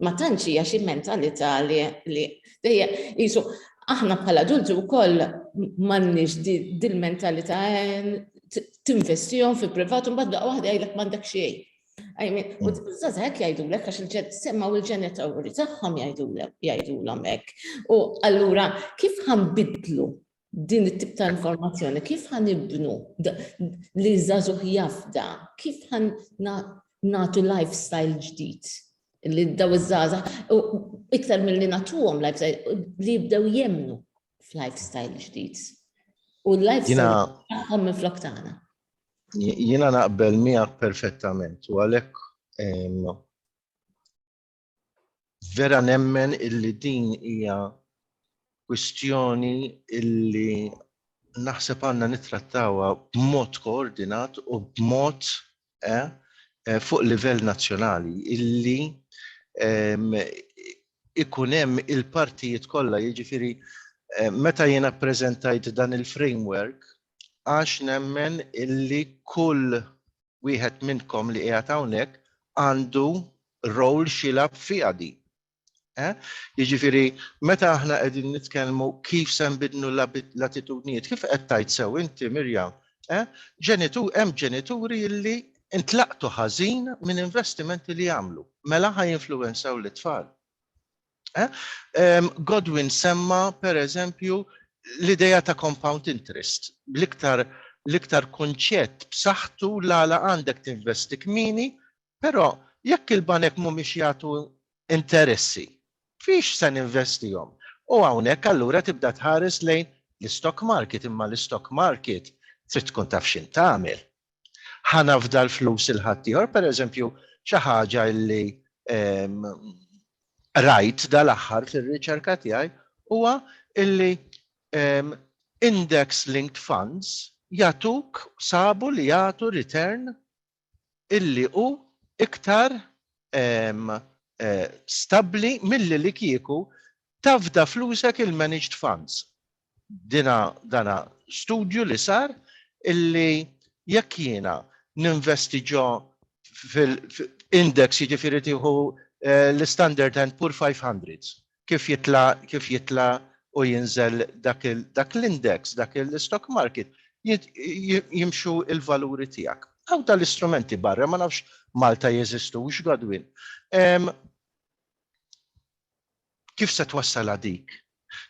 ma tantx hija xi mentalità li dejja jisu aħna bħala adulti wkoll m'għandniex dil-mentalità tinvestihom fi privat u mbagħad waħda jgħidlek m'għandek xejn. U t-tazak mm. jajdulek, għax il-semmaw il-ġenitawri taħħom jajdulek, jajdulom ek. U allura, kif ħambidlu din it-tip ta' informazzjoni, kif ħan ibnu li zazuħ jafda, kif ħan natu lifestyle ġdid li daw iż-żaza, iktar mill-li natuhom lifestyle, li jibdew jemnu f'lifestyle ġdid. U l-lifestyle tagħhom minn flok tagħna. Jiena naqbel miegħek perfettament u għalhekk Vera nemmen illi din hija kwistjoni illi naħseb għandna nittrattawha b'mod koordinat u b'mod eh, eh, fuq livell nazzjonali illi ehm, ikun hemm il-partijiet kollha, jiġifieri eh, meta jiena ppreżentajt dan il-framework għax nemmen illi kull wieħed minnkom li qiegħed hawnhekk għandu rol xilab fiha din. Eh? Jiġifieri meta aħna qegħdin nitkellmu kif se nbidlu l-attitudnijiet, kif qed tajt sew inti Mirjam, eh? ġenitur hemm ġenituri illi intlaqtu ħażin minn investimenti li jagħmlu. Mela ħaj influenzaw l-tfal. Godwin semma, per eżempju, l-idea ta' compound interest, l-iktar kunċett b'saħħtu l-għala għandek tinvesti kmieni, però jekk il-banek mhumiex jagħtu interessi, fiex se ninvestihom? U hawnhekk allura tibda tħares lejn l-istock market, imma l-istock market trid tkun taf x'int tagħmel, Ħa nafda l-flus il ħaddieħor, pereżempju, xi ħaġa li rajt dal-aħħar fir-riċerka tiegħi huwa illi index linked funds jatuk sabu li jagħtu return illi hu iktar eh, stabbli milli li kieku Tafda flusek il-managed funds. Dina dana studju li sar illi jekk jiena ninvesti ġo fil-index jiġifieri tieħu l-Standard and Poor 500 kif jitla' kif jitla' u jinżel dak il dak l-index dak il-stock market jimxu l-valuri tiegħek. Hawn tal-istrumenti barra ma nafx Malta jeżistux Godwin. kif se twassal dik?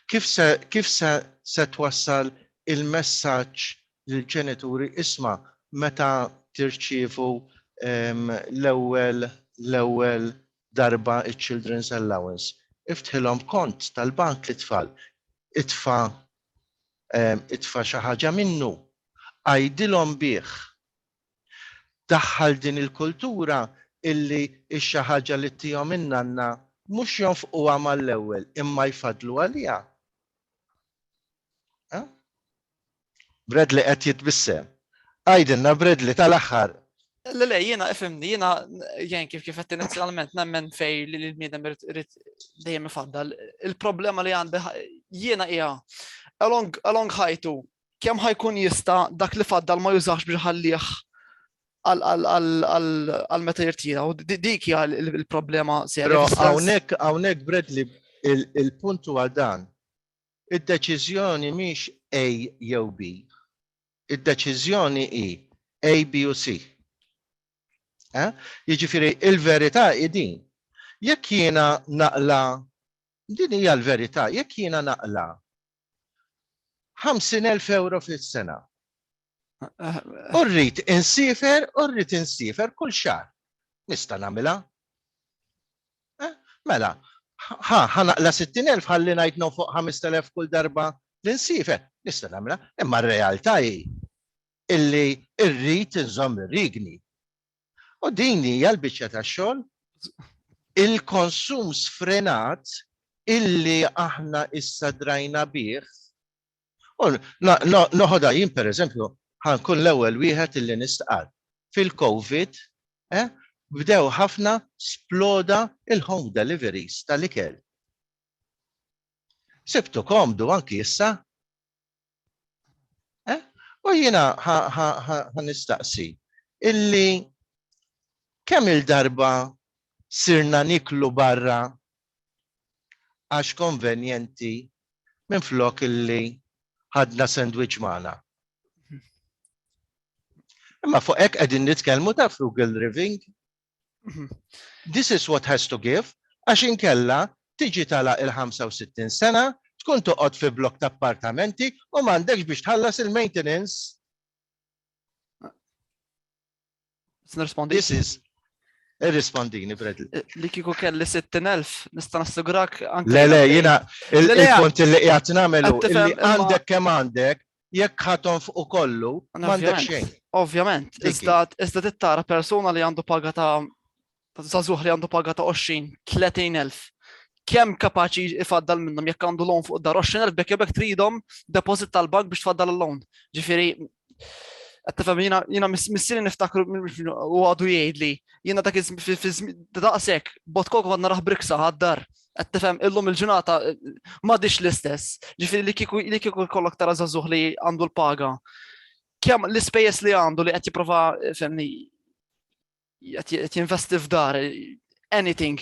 Kif se kif se se twassal il-messaġġ lill-ġenituri isma' meta tirċievu ehm, l-ewwel l-ewwel darba iċ-children's allowance? Iftħilhom kont tal-bank li tfal itfa' ehm, itfa' xi ħaġa minnu, għajdilhom bih Daħħal din il-kultura illi x-xi ħaġa li ttihom in-nanna mhux jonfquha mal-ewwel imma jfaddlu għaliha. Bradley qed jitbissem. Għidilna Bradley tal-aħħar Le, le, jiena ifimni, jiena jien kif kif qed inizjalment nemmen fej li l-bniedem irid dejjem ifaddal. Il-problema li għandi jiena hija along along ħajtu kemm ħajkun jista dak li faddal ma jużax biex ħallih għal meta jirtira. U dik hija l-problema serja. Hawnhekk hawnhekk Bradley il-punt huwa dan. Id-deċiżjoni mhix A jew B. Id-deċiżjoni hi A, B u C. Eh? Jiġifieri il-verità hi din. Jekk jiena naqla din hija l-verità, jekk jiena naqla 50,000 euro fis-sena. U rrid insifer, u rrid insifer kull xahar. Nista' nagħmilha? Eh, mela, ħa ħanaqla 60,000 ħalli ngħid no fuq 5,000 kull darba li nsifer. Nista' nagħmilha, imma r-realtà hi illi rrid inżomm ir-rigni. U din hija l-biċċa tax-xogħol il-konsum sfrenat illi aħna issa drajna bih. U noħodha jien pereżempju ħankun l-ewwel wieħed illi nistqarr. Fil-COVID, eh, bdew ħafna sploda il-home deliveries tal-ikel. Sibtu komdu anki issa Eh? U jiena ħanistaqsi illi kemm il-darba sirna niklu barra għax konvenjenti minn flok illi ħadna sandwich magħna. Imma fuq hekk qegħdin nitkellmu ta' frugal living, This is what has to give għax inkella tiġi tagħlaq il-65 sena, tkun toqgħod fi blokk ta' appartamenti u m'għandekx biex tħallas il-maintenance. This is Irrispondini, Bradley. Eh, li kiku kelli 60.000, nista nassigrak anke. Le, le, jina, il-kont li jgħat namelu, li għandek kem għandek, jekk ħa tonfqu kollu, m'għandek xejn. Ovvjament, iżda tittara persuna li għandu paga ta' zazuħ li għandu paga ta' 20, 30 elf kem kapaċi ifaddal minnhom jekk għandu loan fuq dar 20,000 bekk jebek tridhom deposit tal-bank biex tfaddal l-loan. Ġifieri qed tifhem jiena jiena missieri niftakru u għadu jgħidli jiena dak daqshekk bot kok għadna raħ briksa għad-dar Qed tifhem illum il-ġurnata m'għadix l-istess. Ġifieri li kieku li kieku jkollok tara żagħżugħ li għandu l-paga. Kemm l-ispejjeż li għandu li qed jipprova femni qed jinvesti f'dar anything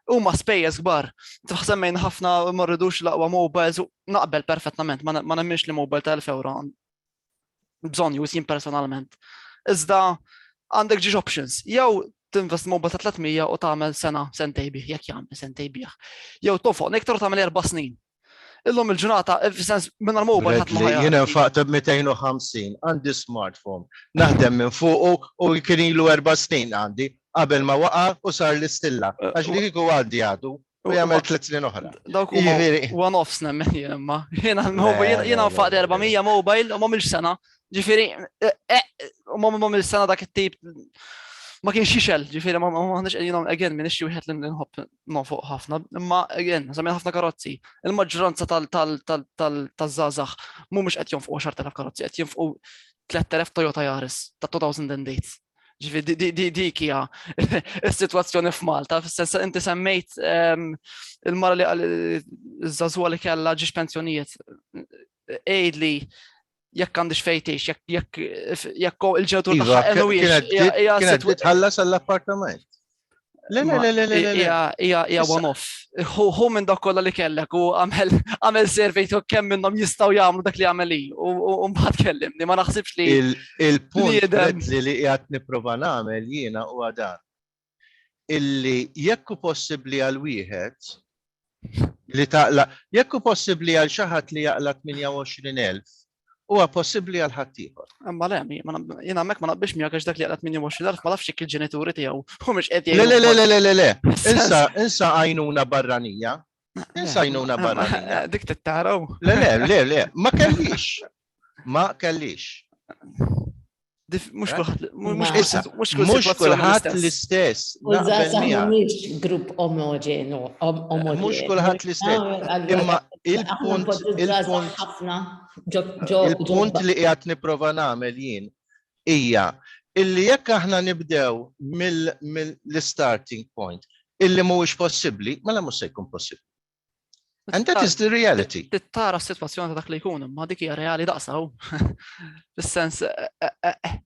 huma spejjeż kbar. Tħsemmejn ħafna ma rridux laqwa mobiles naqbel perfettament, ma nemminx li mobile ta' 1000 euro bżonn jus jien personalment. Iżda għandek ġiex options. Jew tinvest mobile ta' 300 u tagħmel sena sentej bih, jekk jagħmel sentej bih. Jew tofoq nektar u tagħmel erba' snin. Illum il-ġurnata, eh, f'sens minn għal-mobile ħadd ma Jien infaqt b'250, għandi smartphone, naħdem minn fuqu u kien ilu erba' snin għandi qabel ma waqa' u sar l-istilla. Eh, Għax li kieku għandi għadu. U jagħmel tliet snin oħra. Dawk huma one offs nemmen jien imma. Jiena jiena nfaq 400 mobile u ma milx sena. Ġifieri e, e, u ma milx sena dak it-tip ma kienx xixel, ġifieri ma ħanix qegħdin again minn ixxi wieħed li nħobb nofoq ħafna, imma again, żamien ħafna karozzi. Il-maġġoranza tal-żgħażagħ mhumiex qed jonfqu 10,000 karozzi, qed jonfqu 3000 Toyota Yaris ta' 2008. Ġifi, dik hija s-sitwazzjoni f'Malta, fis-sens inti semmejt ehm, il-mara li għal żagħżugħa li kellha ġiex pensjonijiet. Ejd li jekk għandix fejtix, jekk jekk il-ġewtur iva, tagħha hija tħallas għall-appartament. Le, le, le, le, le. Ija one-off. Hu minn dak kollha li kellek u għamel survey to kemm minnhom jistgħu jagħmlu dak li għamel hi u mbagħad kellimni ma naħsibx li il-punt li qiegħed nipprova nagħmel jiena u dan. Illi jekk hu possibbli għal wieħed li taqla, jekk hu possibbli għal xi ħadd li jaqla 28,000 huwa possibbli għal ħaddieħor. Imma le, jiena hemmhekk ma naqbix miegħek għax dak li għalat 28,000 ma nafx il-ġenituri tiegħu u mhux qed Le le le le le le. Insa insa għajnuna barranija. Insa għajnuna barranija. Dik tittaraw. Le le le le, ma kellix. Ma kellix. Mux kullħat l-istess. Mux grupp omogenu. Mux kullħat l-istess. Imma il-punt il-punt li jgħat niprofa namel jien. Ija, illi jekk aħna nibdew mill-starting point, illi mux possibli, mela mux se jkun possibli. And that is the reality. Tittara s-situazzjoni ta' dak li jkun, ma dik hija reali daqsaw. Fis-sens. Eh, eh, eh,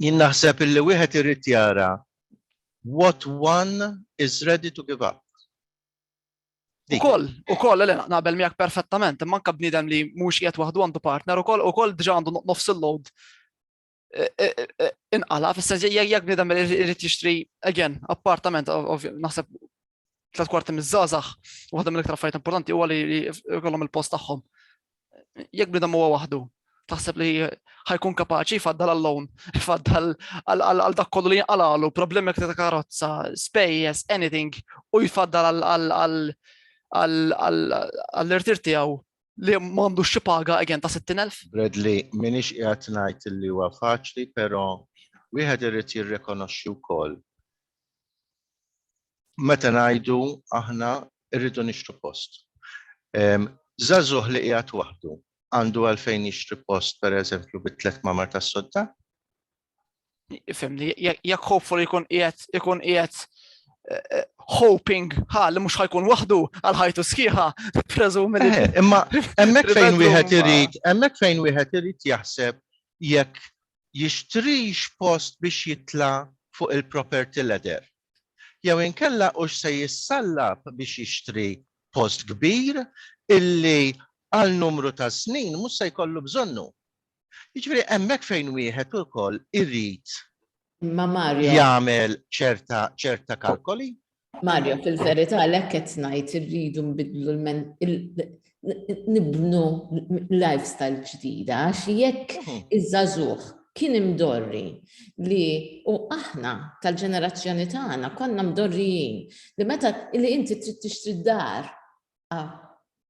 Jien naħseb illi wieħed irid jara what one is ready to give up. Ukoll, ukoll, le naqbel miegħek perfettament, imma anke bniedem li mhux qiegħed waħdu għandu partner ukoll ukoll diġà għandu nofs il-load inqala, fis-sens jekk bniedem irid jixtri, again, appartament, naħseb tlet kwarti miż-żazax, waħda mill-iktar affarijiet importanti huwa li jkollhom il-post tagħhom. Jekk bniedem huwa waħdu, taħseb li ħajkun kapaċi faddal għall-lawn, faddal għal dak kollu li jinqalalu, problemi ta' karozza, spejjes, anything, u jfaddal għall-irtir tiegħu li ma għandux xi paga again ta' 60,000. Bradley, minix qiegħed ngħid li huwa faċli, però wieħed irid jirrikonoxxi wkoll. Meta ngħidu aħna rridu nixtru post. Żagħżugħ li qiegħed waħdu għandu għalfejn jixtri post pereżempju bi tliet mamar tas-sodda? Fimni, jekk hopefully jkun qiegħed ikun qiegħed eh, eh, hoping ha li mhux ħajkun waħdu għal ħajtu sħiħa preżumi li. Eh, imma hemmhekk fejn wieħed irid, hemmhekk fejn wieħed irid jaħseb jekk jixtrix post biex jitla' fuq il-property ladder. Jew inkella u se jissallab biex jixtri post kbir illi għal numru ta' snin mhux se jkollu bżonnu. Jiġifieri hemmhekk fejn wieħed ukoll irid jagħmel ċerta ċerta kalkoli. Mario, fil-verità l qed ngħid irridu nbidlu nibnu lifestyle ġdida għax jekk mhm. iż-żagħżugħ kien imdorri li u aħna tal-ġenerazzjoni tagħna konna mdorrijin li meta li inti trid tixtri dar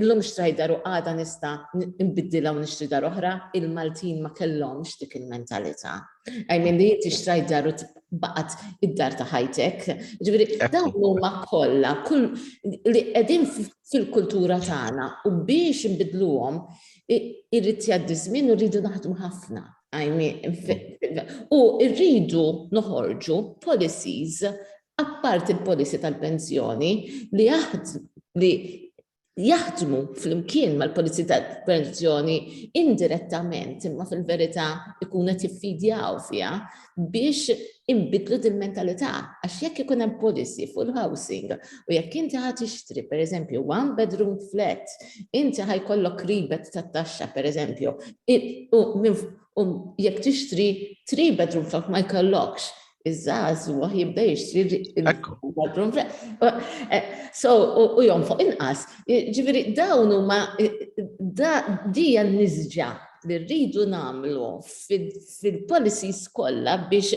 Illum xtrajt dar u għada nista' nbiddilha u nixtri dar oħra, il-Maltin ma kellhomx dik il-mentalità. I mean li inti xtrajt dar u baqgħet id-dar ta' ħajtek. Ġifieri dawn huma kollha kull li qegħdin fil-kultura tagħna u biex inbidluhom irrid jgħaddi żmien u rridu naħdmu ħafna. U rridu noħorġu policies Apparti l-policy tal-pensjoni, li jaħdmu flimkien mal-policy tal-pensjoni indirettament imma fil-verità jkunu qed jiffidjaw fiha biex inbiddlu dil-mentalità għax jekk ikun hemm policy fuq il-housing u jekk inti ħa tixtri pereżempju one bedroom flat inti ħa jkollok rebate tat-taxxa pereżempju u jekk tixtri three bedroom flat ma jkollokx iż-żgħażugħ jibda jixtri eh, So, u jom fuq inqas. Ġifieri dawn huma dija nisġa li rridu nagħmlu fil-policies kollha biex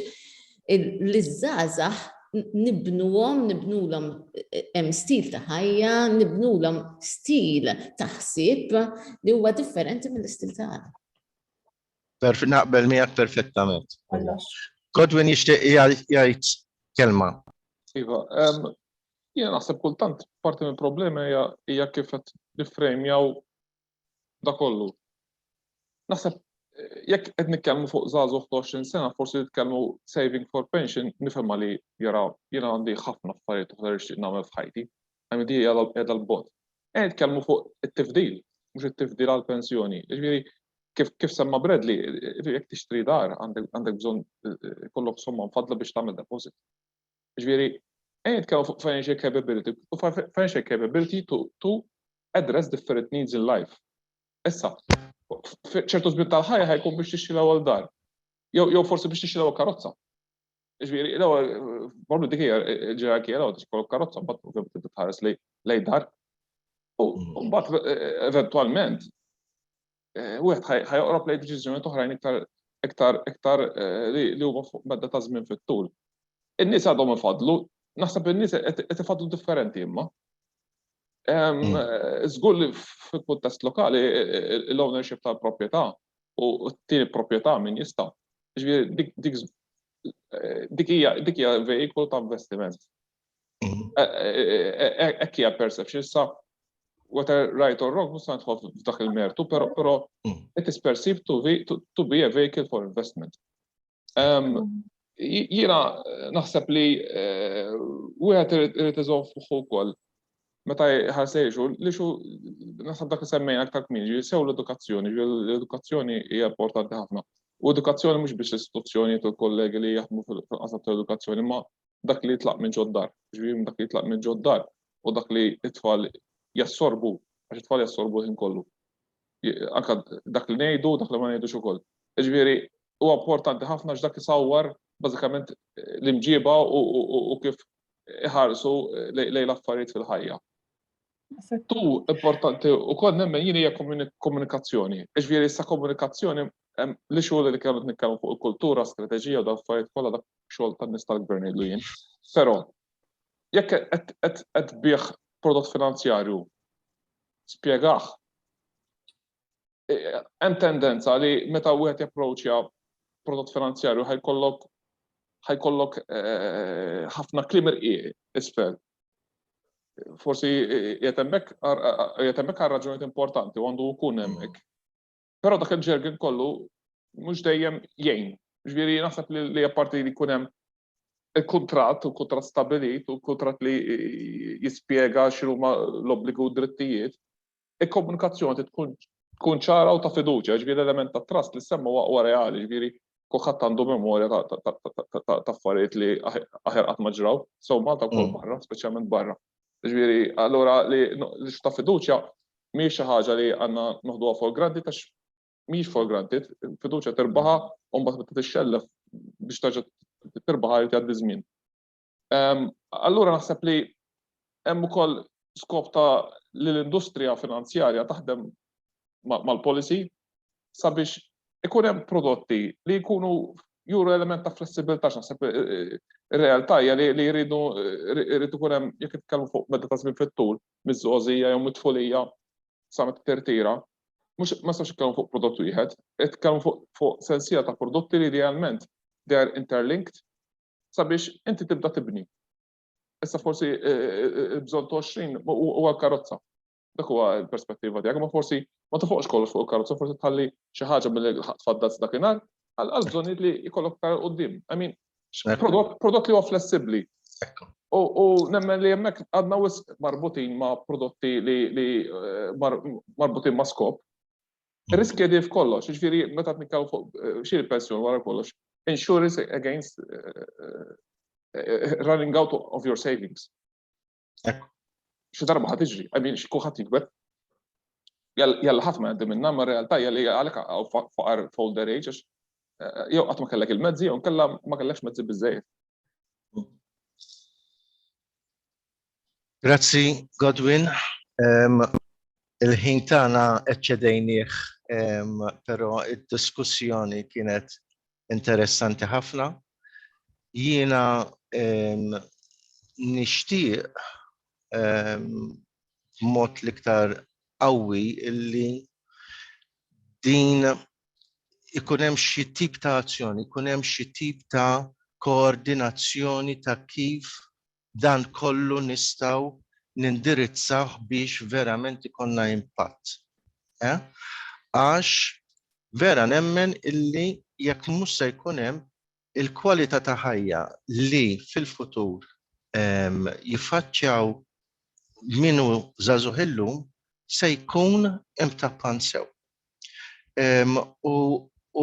l-żgħażagħ nibnuhom, nibnulhom eh, hemm stil ta' ħajja, nibnulhom stil ta' ħsieb li huwa differenti mill-istil ta' Perf naqbel miegħek perfettament. Godwin jixtieq jgħid kelma. Iva, jiena naħseb kultant parti mill problema hija kif qed niffrejmjaw da kollu. Naħseb jekk qed nitkellmu fuq żagħżugħ 20 sena, forsi nitkellmu saving for pension, nifhem li jara jiena għandi ħafna affarijiet oħra li nagħmel f'ħajti. MD qiegħda l-bot. Qed nitkellmu fuq it-tifdil, mhux it-tifdil għal pensjoni. Jiġifieri kif kif semma Bradley, jekk tixtri dar għandek bżonn kollok somma mfaddla biex tagħmel deposit. Jiġifieri qed nitkellmu fuq financial capability u financial capability to, to address different needs in life. Issa, ċertu żmien tal-ħajja ħajkun biex tixtri l-ewwel dar. Jew forsi biex tixtri l-ewwel karozza. Ġviri, l bordu dik hija ġerarkija l-ewwel tixkol karozza mbagħad ovvjament titħares lej dar. U mm. mbagħad e, e, eventwalment e, wieħed ħajoqrob lej deċiżjoni toħrajn iktar iktar iktar li huma fuq medda ta' żmien fit-tul. In-nies għadhom ifadlu, naħseb in-nies qed ifadlu differenti imma. Żgur mm. li fil-kuntest lokali l-ownership tal-proprjetà u t-tieni proprjetà min jista'. Ġifieri dik hija dik hija veikolu ta' investiment. Mm. E, e, e, hekk hija perception sa whether right or wrong, musa nħof f'dak il-mertu, pero pero mm. it is perceived to be, to, to be a vehicle for investment. Jiena naħseb li eh, wieħed irid iżomm fuħu wkoll meta ħarsejxu li xu naħseb dak semmejna aktar kmini, sew l-edukazzjoni, l-edukazzjoni hija importanti ħafna. U edukazzjoni mhux biex istituzzjoni u kollegi li jaħdmu fil-qasam tal-edukazzjoni, ma dak li jitlaq minn ġoddar, ġviri dak li jitlaq minn ġoddar u dak li it-tfal jassorbu, għax it-tfal jassorbu ħin kollu. Anka dak li ngħidu, dak li ma ngħidux ukoll. Ġviri, huwa importanti ħafna x'dak isawwar bażikament l-imġiba u kif iħarsu lejn l-affarijiet fil-ħajja. Tu importanti u kol nemmen jini hija komunikazzjoni. Iġviri issa komunikazzjoni li xogħol li kellu nitkellmu fuq il-kultura, strateġija u dal affarijiet kollha dak xogħol tan-nies tal-gvern jgħidu jien. Però jekk qed bih prodott finanzjarju spjegah hemm tendenza li meta wieħed japproċċja prodott finanzjarju ħajkollok ħajkollok eh, ħafna klim irqieq isfel. Forsi jetemmek għal raġunijiet importanti u għandu jkun hemmhekk. Però dak il-ġergin kollu mhux dejjem jgħin. Ġifieri naħseb li apparti li jkun hemm il-kontrat, u kontrat stabilit, u kontrat li jispjega x'huma l-obbligu drittijiet, il-komunikazzjoni tkun tkun ċara u ta' fiduċja, ġviri l-element ta' trust li semmu waqwa reali, ġviri kuħat għandu memorja ta' affarijiet li aħer qatt ma ġraw, sew Malta wkoll mm. barra, speċjalment barra. Ġviri, allura li ta' fiduċja mhix xi ħaġa li għandna noħduha for granted għax mhix for granted, fiduċja terbaħa u mbagħad meta tixxellef biex terġa' terbaħa li tgħaddi żmien. Allura naħseb li hemm ukoll skop ta' li l-industrija finanzjarja taħdem mal-policy sabiex ikun hemm prodotti li jkunu juru element ta' flessibilità x'naħseb ir-realtà hija li jridu jrid ikun hemm jekk nitkellmu fuq meta ta' żmien fit-tul miż-żgħożija jew mit-tfulija sa meta tirtira. Mhux ma nistax nitkellmu fuq prodott wieħed, qed nitkellmu fuq sensiela ta' prodotti li idealment they are interlinked sabiex inti tibda tibni. Issa forsi eh, eh, eh, bżon 20 u għal karozza. Dak huwa l-perspettiva tiegħek, ma forsi ma tofoqx kollox fuq il-karozza, forsi tħalli xi ħaġa mill tfaddal dakinhar għal bżonnijiet li jkollok tar qudiem. I mean, prodott li huwa flessibbli. U nemmen li hemmhekk għadna wisq marbutin ma' prodotti li marbutin ma' skop Riskja di f'kollox, ġifieri meta tnikkaw fuq xiri pensjoni wara kollox, insurance against running out of your savings. Xi darba ħad iġri, I mean, kulħadd jikber. Jalla ħadd ma jgħaddi minna, ma realtà hija li għalhekk għaw faqar folder age, jew qatt ma kellek il-mezzi jew kellha ma kellekx mezzi biżejjed. Grazzi Godwin. Il-ħin tagħna eċċedejnieh però d-diskussjoni kienet interessanti ħafna. Jiena nixtieq b'mod l-iktar qawwi li din ikun hemm xi tip ta' azzjoni, ikun hemm xi tip ta' koordinazzjoni ta' kif dan kollu nistgħu nindirizzawh biex verament ikollna impatt. Eh? Għax vera nemmen illi jekk mhux se jkun hemm il-kwalità ta' ħajja li fil-futur ehm, jiffaċċjaw minu żagħżugħ illum se jkun imtappan sew.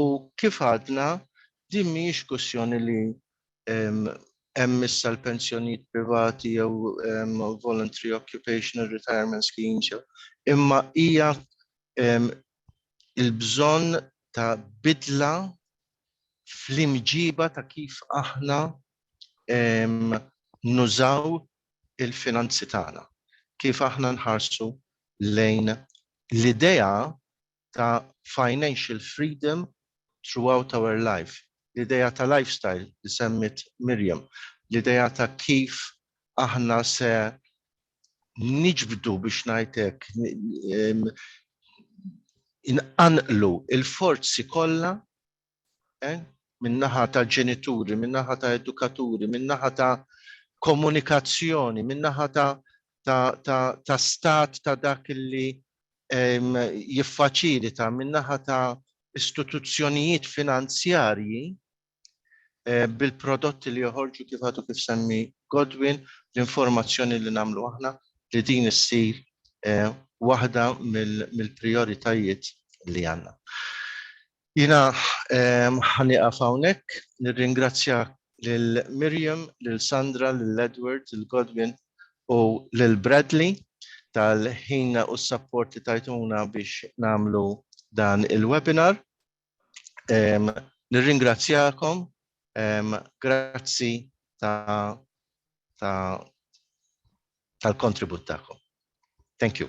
U kif għadna, din mhijiex kwistjoni li hemm issa l-pensjonijiet privati jew voluntary occupational retirement schemes, imma hija l-bżonn ta' bidla fl-imġiba ta' kif aħna nużaw il-finanzi tagħna, kif aħna nħarsu lejn l-idea ta' financial freedom throughout our life, l-idea ta' lifestyle li semmiet Miriam, l-idea ta' kif aħna se niġbdu, biex ngħid hekk, inqanqlu l-forzi kollha eh? min-naħa ta' ġenituri, min-naħa ta' edukaturi, min-naħa ta' komunikazzjoni, min-naħa ta', ta, ta, ta stat ta' dak li jiffaċilita, min-naħa ta' istituzzjonijiet finanzjarji eh, bil-prodotti li joħorġu kif għadu kif semmi Godwin, l-informazzjoni li namlu aħna li din issir eh, waħda mill-prioritajiet li għanna. Jiena ħa nieqaf hawnhekk. Nirringrazzja lil Miriam, lil Sandra, lil Edward, lil Godwin u lil Bradley tal-ħin u s-sapport li tajtuna biex nagħmlu dan il-webinar. Nirringrazzjakom. Grazzi tal-kontribut tagħkom. Thank you.